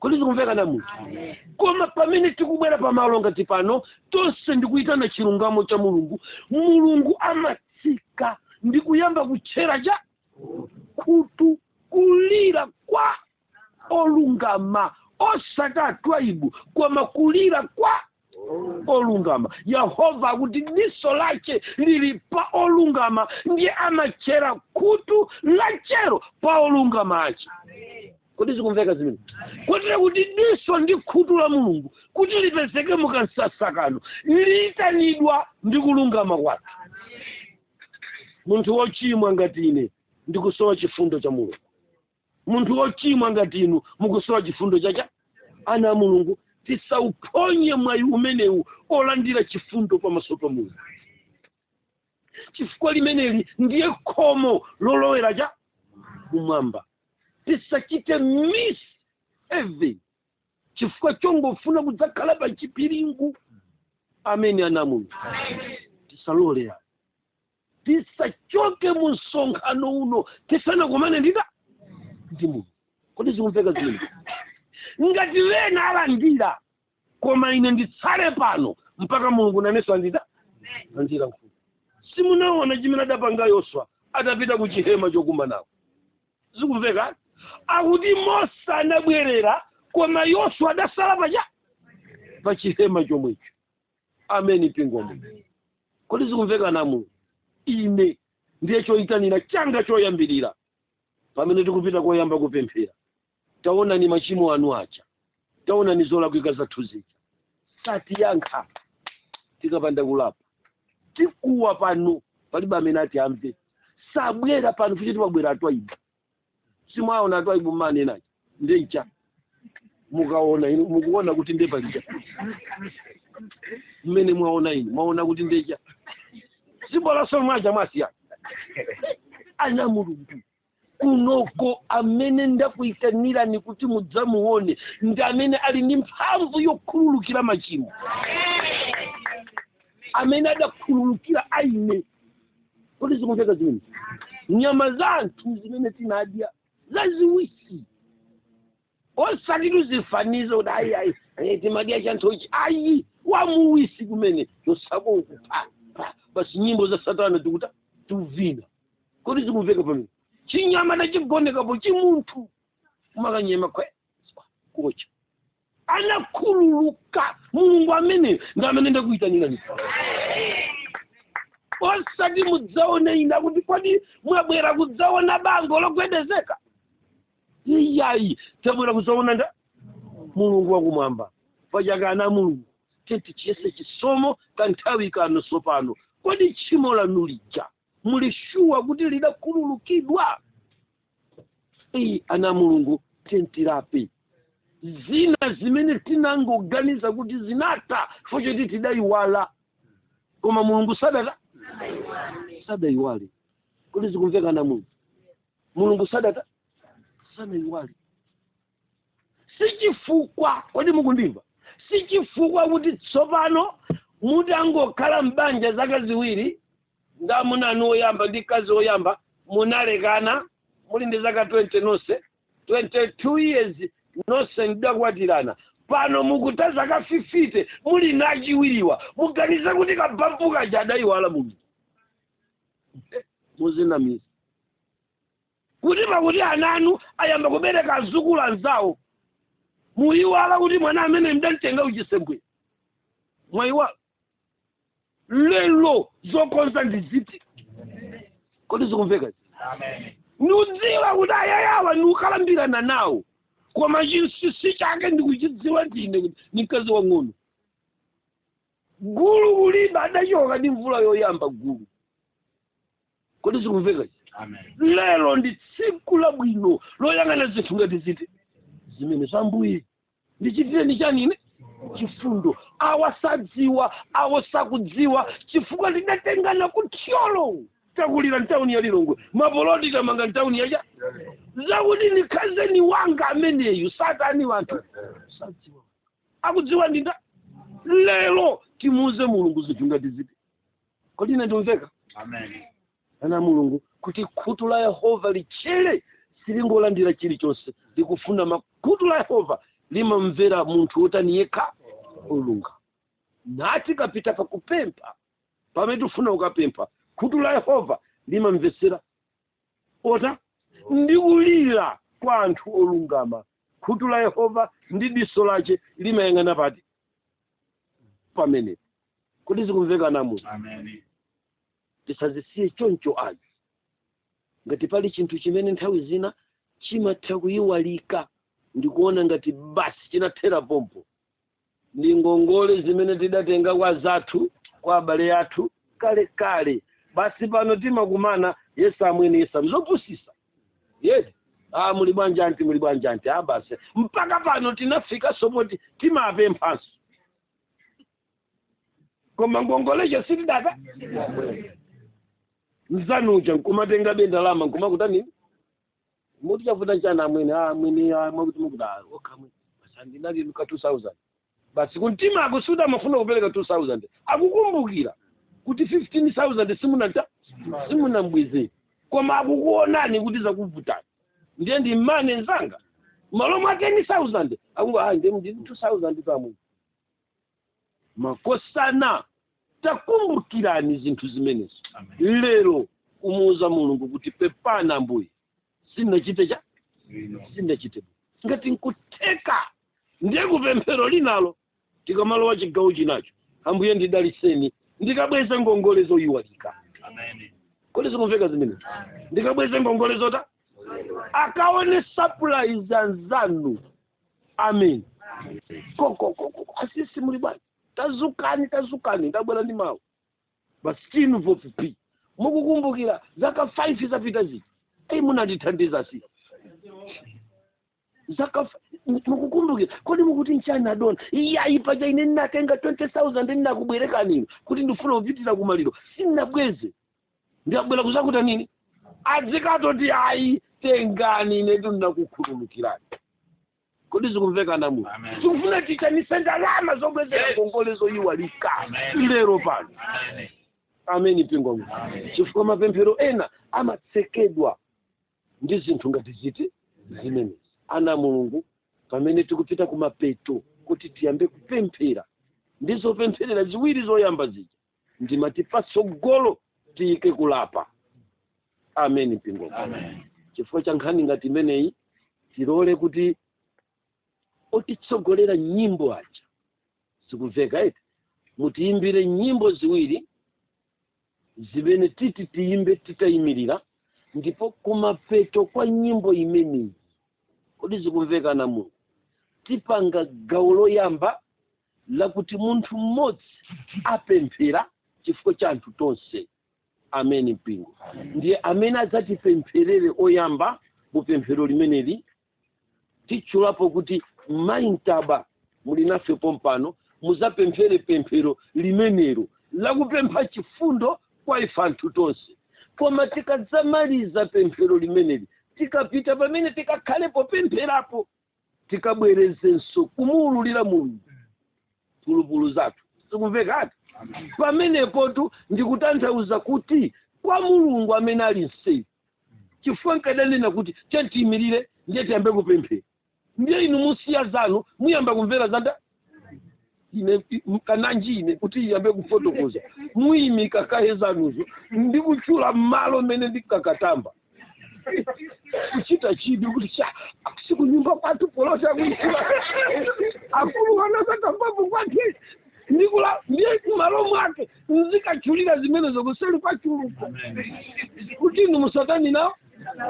kodi zikumveka ana mulungu koma pamene tikubwera pamalo ngati pano tonse ndikuyitana chilungamo cha mulungu mulungu amatsika ndi kuyamba kutchera cha khutu kulira kwa olungama osati atwaibu koma kulira kwa olungama yehova akuti diso lace lili pa olungama ndiye amatchera khutu lachero pa olungama ace kodi zikumveka zimene kotero kuti diso ndi khutu la mulungu kuti lipezeke mukamsasa kano liyitanidwa ndi kulungama kwathu munthu wochimwa ngati ine ndikusowa chifundo cha mulungu munthu wochimwa ngati inu mukusowa chifundo chacha ana a mulungu tisauphonye mwayi umenewu olandira chifundo pamaso pa mulungu chifukwa limeneli ndiye khomo lolowera cha kumwamba tisachite miss heaven chifukwa chongofuna kudzakhala pa chipiringu ameni ana mulungu tisalolera tisachoke mu msonkhano uno tisanakumane ndita ndi mulungu kodi zikumveka zimene ngati wena alandira koma ine nditsale pano mpaka mulungu nanenso andita andira mfumu simunaona chimene adapanga yoswa adapita ku chihema chokumanako zikumveka akuti mose anabwerera koma yoswa adasala pacha pa chihema chomwecho ameni mpingo ameni kodi zikumveka ana mulungu ine ndiye choyitanira changa choyambirira pamene tikupita koyamba kupemphera taonani machimo anu aja taonani zolakwika zathu zija satiyankha tikapanda kulapa tikuwa pano palibe amene ati amve sabwera pano futi timabwera atwaibu simwaona atwaibu mmanenaje nde icha mukaona inu mukuona kuti nde palija mmene mwaona inu mwaona kuti nde icha sibolaso mwaja mwasiya ana mulungu kunoko amene ndakuyitanirani kuti mudzamuone ndi amene ali ndi mphamvu yokhululukira machimo amene adakhululukira aine kodi zikumveka zimene nyama za anthu zimene tinadya zaziwisi osati tuzifaniza kuti ayi ayi eh, timadya chanthuchi ayi wamuwisi kumene chosako kupha pa- basi nyimbo za satana tikuta tuvina kodi zikumveka Amen chinyama tachigonekapo chimunthu umakanyema kwe kucha anakhululuka mulungu ameneyo ndi amene ndakuyitanirani osati mudzaone ina kuti kodi mwabwera kudzaona bango logwedezeka iyayi tabwera kudzaona nda mulungu wakumwamba paja ana mulungu tiyeni tichiyese chisomo kanthawi kano sopano kodi tchimo lanu lija muli shuwa kuti lidakhululukidwa iyi ana a mulungu tiyeni tilape zina zimene tinangoganiza kuti zinatha chifukwa choti tidayiwala koma mulungu sadata sadayiwale kodi zikumveka ana a mulungu mulungu sadata sanayiwale si chifukwa kodi mukundimva si chifukwa kuti tsopano mutangokhala m'banja zaka ziwiri ndi amuna anu oyamba ndi mkazi oyamba munalekana muli ndi zaka 20 nonse 22 years nonse mudakwatirana pano mukutha zaka 50 muli ndi achiwiriwa muganiza kuti kabampu kaja adayiwala mulungu muzinamiza kuti pakuti ana anu ayamba kubereka azukulu anzawo muyiwala kuti mwana amene mdamtenga kuchisembwere mwayiwala lelo zokonza ndi ziti kodi zikumveka ndikudziwa kuti ayayawa ndikukalambirana nawo koma chinsinsi chake ndikuchidziwa ndine kuti ni mkazi wang'ono gulu kuliba adachoka ndi mvula yoyamba gulu kodi zikumveka lero ndi tsiku labwino loyang'ana zinthu ngati zimenezi ambuye ndichitireni chani ine chifundo awa sadziwa awo sakudziwa chifukwa tidatengana ku thyolo takulira ntawuni ya lilongwe mapoloti tamanga ntawuni yacha zakuti ndikhazeni wanga ameneyu satani anthu sadziwa akudziwa ndinda lero timuuze mulungu zinthu ngati ziti kodi ine ndikumveka Amen. ana a mulungu kuti khutu la yehova litchere silingolandira chilichonse likufuna makutu la yehova limamvera munthu wotani yekha olungama tikapita pakupempha pamene tifuna ukapempha khutu la yehova limamvetsera ota ndi kulira kwa anthu olungama khutu la yehova ndi diso lace limayang'ana pati pamenepo kodi zikumveka ana a mulungu Amen. tisazisiye choncho ayi ngati pali chinthu chimene nthawi zina chimatha kuyiwalika ndikuona ngati basi chinathera pompo ndi ngongole zimene tidatenga kwa anzathu kwa abale athu kale kale basi pano timakumana yes amwene yes a mzopusitsa yedi ah muli bwanji anti muli bwanji anti ah basi mpaka pano tinafikaso poti timapemphanso koma ngongoleyo sitidata mzanu uja nkumatenga be ndalama nkumakutani muti chavuta chana amwene ah, amwene ah, mwakuti mukuti ah, okha amwene sandinali ka 2000 basi kumtima akusuta amafuna kupereka 2000 akukumbukira kuti 15000 simunata simunambweze koma akukuonani kuti zakuvutani ndiye ndi mmwene nzanga malo mwa 10000 akungo ah, ndiye ndi 2000 pamwene makosana takumbukirani zinthu zimenezo Amen. lero kumuuza mulungu kuti pepani ambuye sindinachite cha Bwino. sindinachite bwino. ngati nkutheka ndiye kupemphero linalo tikamalowa chigawo chinacho ambuye ndidaliseni ndikabweze ngongole zoyiwalika Amen. kodi zikumveka zimenezi ndikabweze ngongole zota akaone surprise anzanu amen kokokoko asisi muli bwanji tazukani tazukani ndabwera ndi mawu basitu ofupi mukukumbukira zaka 5 zapita ziti eyi munandithandiza si zaka f- mu- mukukumbukira kodi mukuti nchani adona iyayi paja ine ndinatenga 20000 ndinakubwerekanino kuti ndifuna kupitira kumaliro sindinabweze ndiye ndabwera kuzakutani nini adzikati ayi tengani inetu ndinakukhululukirani kodi zikumveka ana a mulungu Amen. tikufuna titchanise ndalama zobwezera Yes. ngongole zoyiwalika Amen. lero pano Amen. ameni mpingo wa mulungu Amen. chifukwa mapemphero ena amatsekedwa ndi zinthu ngati ziti zimenezi ana a mulungu pamene tikupita kumapeto kuti tiyambe kupemphera ndi zopempherera ziwiri zoyamba zija ndimati patsogolo tiyike kulapa ameni mpingo chifukwa cha nkhani ngati imeneyi tilole kuti otitsogolera nyimbo aja zikumveka eti mutiyimbire nyimbo ziwiri zimene titi tiyimbe titayimirira ndipo kumapeto kwa nyimbo imeneyi kodi zikumveka ana a mulungu tipanga gawo loyamba lakuti munthu mmodzi apemphera chifukwa cha anthu tonse amen mpingo ndiye amene adzatipempherere oyamba mu pemphero limeneli titchulapo kuti mayi mtaba muli nafe pompano mudzapemphere pemphero limenelo lakupempha chifundo kwa ife anthu tonse koma tikadzamaliza pemphero limeneli tikapita pamene tikakhalepo pempherapo tikabwerezenso kumuwululira mulungu mphulupulu zathu zikumvekatu pamenepotu ndikutanthauza kuti kwa mulungu amene ali mtseri chifukwa nkadanena kuti chatiyimirira ndiye tiyambe kupemphera ndiye inu musiya zanu muyamba kumvera zanga ine mkananji ine kuti ndiyambe kufotokoza muyimika kaye zanuzo ndi kutchula mmalo mmene ndikangoyamba kuchita chidwi kuti cha sikunyumba kwathu polota kutchula akulu anazakambapo kwake ndikula ndiye kumalo mwake ndikatchulira zimenezo kuseri kwa tchuluko kuti inu musatani nawo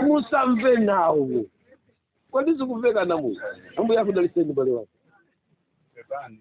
musamve nawo kodi zikumveka amayi ambuye akudaliseni mbale wake pepani